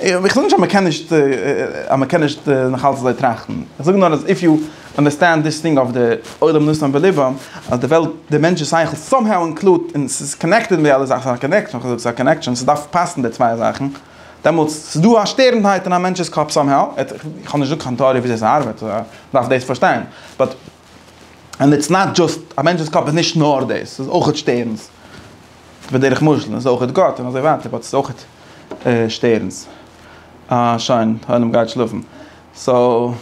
איך זאג נישט אז מען קען נישט אז מען קען נישט נאכאלץ אזוי טראכטן, איך זאג נאר אז איף יו אנדערסטענד דיס טינג אויף די עולם נושאים בליבם אז די וועלט די מענטש'ס שכל סאם האו אינקלוד און ס'איז קאנעקטעד מיט די אלע זאכן, ס'איז א קאנעקשאן, ס'דארף פאסן די צוויי זאכן, דעמאלטס ס'איז דא א שטערנדהייט אין א מענטש'ס קאפ סאם האו, איך האב נישט געזאגט קיין טעאריע וויאזוי ס'ארבעט, דארף דאס פארשטיין, באט. און איטס נאט דזשאסט, א מענטש'ס קאפ איז נישט נאר דאס, ס'איז אויכעט שטערנס, בדרך משל, און ס'איז אויכעט גאט און אזוי ווייטער, באט ס'איז אויכעט שטערנס. אה, שוין, העולם גייט שלאפן. סאו,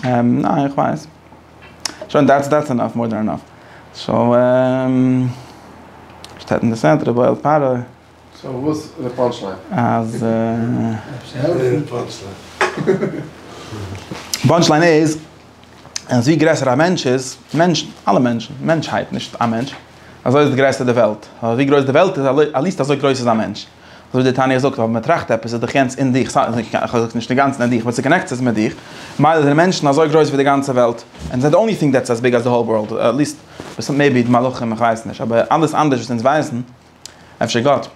ניין, איך ווייס. שוין, דעטס דעטס ענאף, מאר דען ענאף. סאו, שטעטן די סענטער, בועלט פארע.
סאו
וואס איז די פאנטש ליין? אז די פאנטש ליין איז אז ווי גרעסער א מענטש איז, מענטשן, אלע מענטשן, מענטשהייט, נישט א מענטש, אזוי איז גרעסער די וועלט, ווייל ווי גרויס די וועלט איז עט ליעסט אזוי גרויס איז א מענטש. אזוי ווי די תניא זאגט אז ווען מ'טראכט עפעס איז דאך יענץ אין דיך, כ'זאג נישט אינגאנצן אין דיך, באט ס'קאנעקט זיך מיט דיך, ממילא זענען מענטשן אזוי גרויס ווי די גאנצע וועלט, ענד זיי די אנלי טינג דעטס עז ביג עז די האול ווארלד, עט ליעסט מעיבי די מלאכים, כ'ווייס נישט, אבער אלעס אנדערש וואס אונז ווייסן, אפשר גאט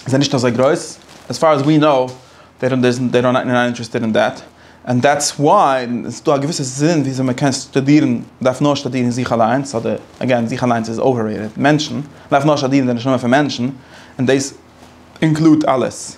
זיי נישט אזוי גרויס? עס פאר עז ווי נאו דעי דאנט דעזענט דעי דאנט נאט אינטערעסטעד אין דעט ענד דעטס וואי עס איז דא א געוויסע זין וויאזוי מען קען שטודירן מען דארף נאר שטודירן זיך אליינס אדער אגעין זיך אליינס איז אוועררעיטעד מענטשן מען דארף נאר שטודירן די נשמה פון מענטשן און דעיס אינקלוד אלעס.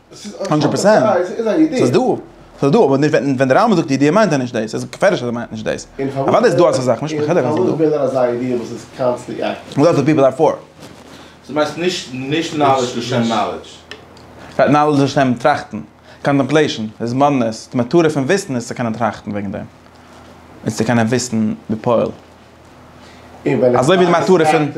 הונדרעט פערסענט, ס'איז דא, ס'איז דא, אבער ווען די רמבם זאגט ידיעה מיינט ער נישט דאס, איז געפערליך אז ער מיינט נישט דאס, אוודאי איז דא אזא זאך, נישט מחולק אז ס'איז דא. דו מיינסט נישט נאלעדזש לשם נאלעדזש?
ס'הייסט נאלעדזש
לשם טראכטן, קאנטעמפלעישן, התבוננות, די מטרה פון וויסן איז צו קענען טראכטן וועגן דעם, איז צו קענען וויסן בפועל, אזוי ווי די מטרה פון.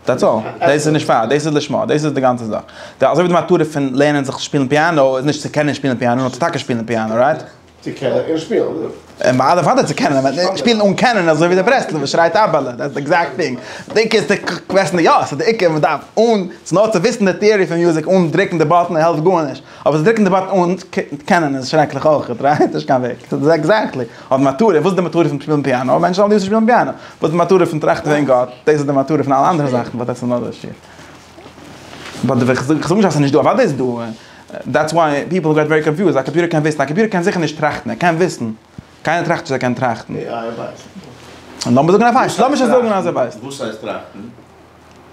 דעטס אלל, דאס איז נישט פאר, דאס איז לשמה, דאס איז די גאנצע זאך. אזוי ווי די מטרה פון לערנען זיך שפילן פיאנא איז נישט צו קענען שפילן פיאנא, נאר צו טאקע שפילן פיאנא, רייט? צו
קענען און שפילן. אדער פאדער
צו קענען, אבער שפילן אן קענען אזוי ווי דער ברסלב'ער שרייט אבעלע, דעטס די עקזעקט טינג. די עיקר איז צו קוועסטן די יאס, די עיקר מ'דארף אן, ס'נאר צו וויסן די טעארי פון מוזיק אן דרוקן די באטן העלפט גארנישט. אבער זיי דרוקן די באטן אן קענען איז שרעקליך אויכעט, רייט? נישט קיין וועג. עקזעקטלי. אבער מטרה, וואס איז די מטרה פון שפילן פיאנא? מענטשן זאלן ליסען שפילן פיאנא. וואס איז די מטרה פון טראכטן וועגן גאט? דאס איז די מטרה פון אלע אנדערע זאכן, באט דעטס אנאדער שיעור. ביי די וועי, כ'זאג נישט אז ס'איז נישטא, אוודאי איז דא. דעטס וואי פיפל געט ווערי קאנפיוזד. א קאמפיוטער קען וויסן? א קאמפיוטער קען זיכער נישט טראכטן. ער קען וויסן. קיינער טראכט נישט אז ער קען טראכטן. עי איי
ווייסט. לאמיר זאגן ער ווייסט.
לאמיר שוין זאגן אז ער ווייסט. וואס הייסט טראכטן?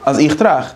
אז איך
טראכט.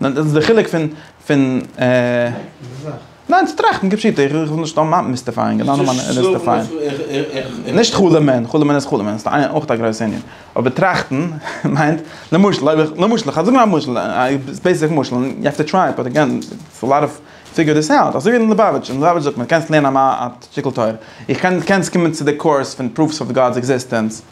ניין דאס איז די חילוק פון פון ניין צו טראכטן כפשוטו איך וויל נישט סתם מיסטיפייען גענוי נאר מיסטיפייען נישט חלומ'ען חלומ'ען איז חלומ'ען ס'איז אויך א גרויסע ענין אבער טראכטן מיינט למשל אויב איך למשל איך זאג נאר א משל א בעיסיק משל יו העוו טו טריי באט עגעין ס'איז א לאט אוו פיגור דיס אוט אזוי ווי אין ליובאוויטש אין ליובאוויטש זאגט מען קענסט לערנען א שטיקל תורה איך קען קענסט קומען צו די קורס פון פרופס אוו גאד'ס עקזיסטענס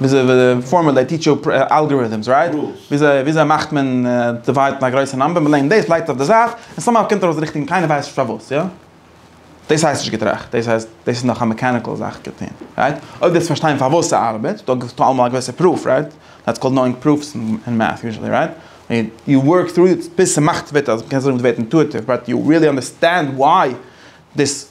וויאזוי פארמעט דעי טיטשער אלגאריטעמס רייט? וויאזוי וויאזוי מאכט מען דיוויידן א גרויסע נאמבער? מ'ליינט דאס לייגט עס אויף די זייט און סאמהאו קומט ארויס די ריכטיגע און קיינער ווייסט נישט פארוואס יא? דאס הייסט נישט געטראכט דאס הייסט דאס איז נאך א מעקעניקעל זאך געטוהן רייט? אויב ווילסט פארשטיין פארוואס ס'ארבעט דא גיבסטו אלעמאל א געוויסע פרוף רייט? דעטס קאלד נאואינג פרופס אין מעטס יוזשעלי רייט? יו ווארק טרו איט ביז ס'מאכט וועט אז מ'קען זאגן וועט אינטואיטיוו באט יו ריעלי אנדערסטענד וואי דאס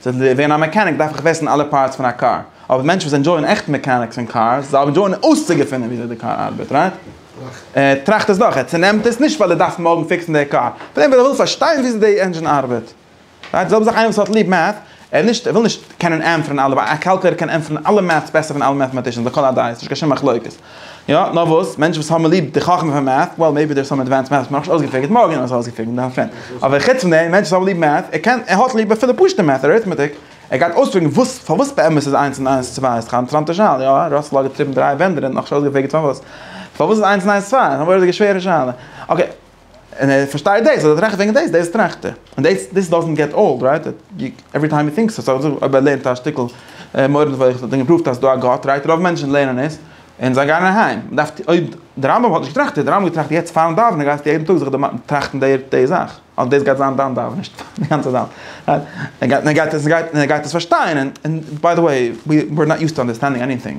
צו ווערן א מעקעניק דארף איך וויסן אלע פארטס פון א קאר, אבער מענטשן וואס ענדזשויען עכט מעקעניקס און קארס, זיי ענדזשויען אויסצוגעפינען וויאזוי די קאר ארבעט, רייט? ער טראכט עס דורך, ער צונעמט עס, נישט ווייל ער דארף מארגן פיקסן די קאר, פלעין ווייל ער וויל פארשטיין וויאזוי די ענדזשין ארבעט, רייט? די זעלבע זאך איינער וואס האט ליב מעט, ער נישט, ער וויל נישט קענען ענטפערן אלע, ווייל א קאלקולעיטער קען ענטפערן אלע מעטס בעסער פון אלע מעטאמאטישאנס לכל הדעות, נישט קיין שום מחלוקת. יא, נאר וואס, מענטשן וואס האבן ליב די חכמה פון מעט'ס, וועל מעיבי דער איז סאם עדווענסד מעט'ס, נאכנישט אויסגעפיגערט, מארגן וועלן מיר עס אויסגעפיגערן דאן פרענד, אבער חוץ פון דעם, מענטשן וואס האבן ליב מעט'ס, ער קען, ער האט ליב אפילו פשוט'ע מעט'ס, אריטמעטיק, ער גייט אויספיגערן וואס, פארוואס באמת איז איינס און איינס צוויי, ס'איז קיין אינטערעסאנטע שאלה, יא, ראסעל האט געטריבן דריי ווענדערן, נאכנישט אויסגעפיגערט פארוואס, פארוואס איז איינס און איינס צוויי, נאר וואס איז די שווערע שאלה, אקעי. און ער פארשטייט דאס, און ער טראכט וועגן דאס, דאס טראכט ער, און דאס, דאס דאזענט געט אולד, רייט? עווערי טיים הי טינקס עס, אויב ער לערנט א שטיקל מורה נבוכים וואס האט אים געפראווט אז ס'איז דא א גאט, רייט? רוב מענטשן לערנען עס, און זיי גייען אהיים. מ'דארף, אויב די רמב ם האט נישט געטראכט, און די רמב ם געטראכט יעצט פארן דאווענען, גייסטו יעדן טאג זיך דערמאנען, טראכטן די די זאך, אז דאס גייט זיין דיין דאווענען, נישט די גאנצע זאך, רייט? און ער גייט עס, און ער גייט עס פארשטיין, און ביי די וועי, ווי אר נאט יוזט טו אנדערסטענדינג עניטינג.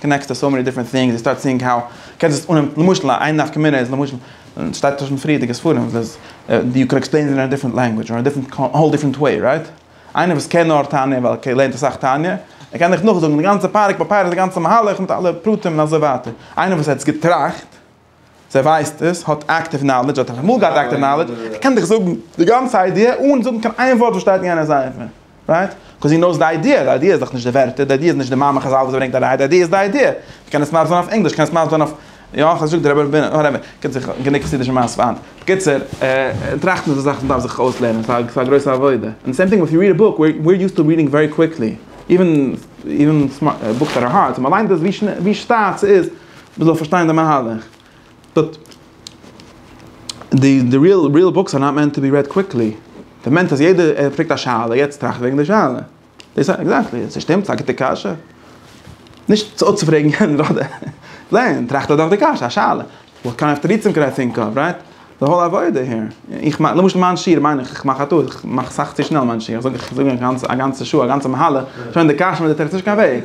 קאנעקטס טו סאו מעני דיפרענט טינגס, יו סטארט סיאינג האו קענסט עס אננעמען, למשל איין נפקא מינה איז למשל, און ס'שטייט אויך אין פריערדיגע ספרים וואס יו קען עקספלעין איט אין א דיפרענט לענגווידזש און א דיפרענט, א האול דיפרענט וועי, רייט? איינער וואס קען נאר תניא ווייל ער לערנט אסאך תניא, ער קען דיך נאכזאגן די גאנצע פרק ביי פרק די גאנצע מהלך מיט אלע פרטים און אזוי ווייטער, איינער וואס האט עס געטראכט, זיי ווייסט עס, האט אקטיוו נאלעדזש, האט אמאל געהאט אקטיוו נאלעדזש, זי קען דיך זאגן די גאנצע איידיע אן זאגן קיין איין ווארט וואס שטייט אין יענער ספר. רייט? קאוז זי נאוס די איידיע, די איידיע איז דאך נישט די ווערטער, די איידיע איז נישט די מאמר חזל וואס זי ברענגט אריין, די איידיע איז די איידיע. זי קען עס מסביר זיין אויף ענגליש, קען עס מסביר זיין אויף, יא, איך האב נישט געזאגט די רבי, וואטעווער, קומט זיך גענוג חסידישע מעשיות. בקיצור, טראכטן איז א זאך וואס מען דארף זיך אויסלערנען, ס'איז א גרויסע עבודה. און סעים טינג איף יו ריעד א בוק, ווער איז יוזט טו ריעדינג ווערי קוויקלי, איווען, איווען בוקס דעט אר הארד, ווען מ'ליינט עס ווי שטאט ס'איז, מען זאל פארשטיין די מהלך, דארט די די ריעל ריעל בוקס אר נאט מענט טו בי רעד קוויקלי, דער מענט אז יעדער ער פרעגט א שאלה יעצט טראכט וועגן די שאלה, דאס א עקזעקטלי עס שטימט ס'איז א גוטע קשיא, נישט צו אפצופרעגן יענער אדער זען טראכט ער דאך די קשיא א שאלה, וואט קיינד אוו תירוצים קען איי טינק אוו רייט, די האול עבודה העיר, איך מיין למשל מיין שיעור מיין איך איך מאך א טעות איך מאך סאך צו שנעל מיין שיעור איך זאג איך זאג א גאנצע שעה א גאנצע מהלך שוין די קשיא מיט די תירוץ נישט קיין וועג.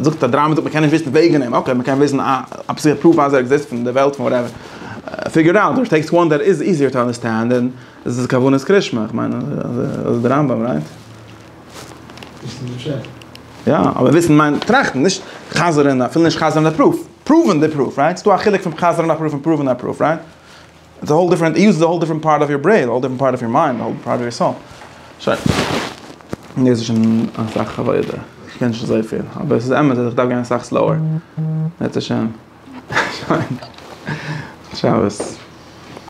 זאגט א דריימער זאגט מען קען נישט וויסן וועגן אים, אקעי מען קען וויסן א א פסיכי פרוף אז ער עקזיסט פון די וועלט פון וואטעווער, פיגור איט אוט, טעקסט וואן דעט איז איזיער טו אנדערסטענד דען איז כוונת קרישמע, איך מיין אז די רמב ם רייט. וויסן די פשט. יא, אבער וויסן מיינט טראכטן, נישט חזר'ן, אפילו נישט חזר'ן די פרוף, פראווען די פרוף, רייט? ס'דא א חילוק פון חזר'ן א פרוף און פראווען א פרוף, רייט? איטס א האול דיפרענט איז איז א האול דיפרענט פארט אוו יור ברעין האול דיפרענט פארט אוו יור מיינד האול דיפרענט פארט אוו יור סאול שוין דאס איז שוין אסאך עבודה איך קען נישט אזויפיל אבער עס איז אמת אז איך דארף גיין אסאך סלאוער בעזהשם שוין. שבת.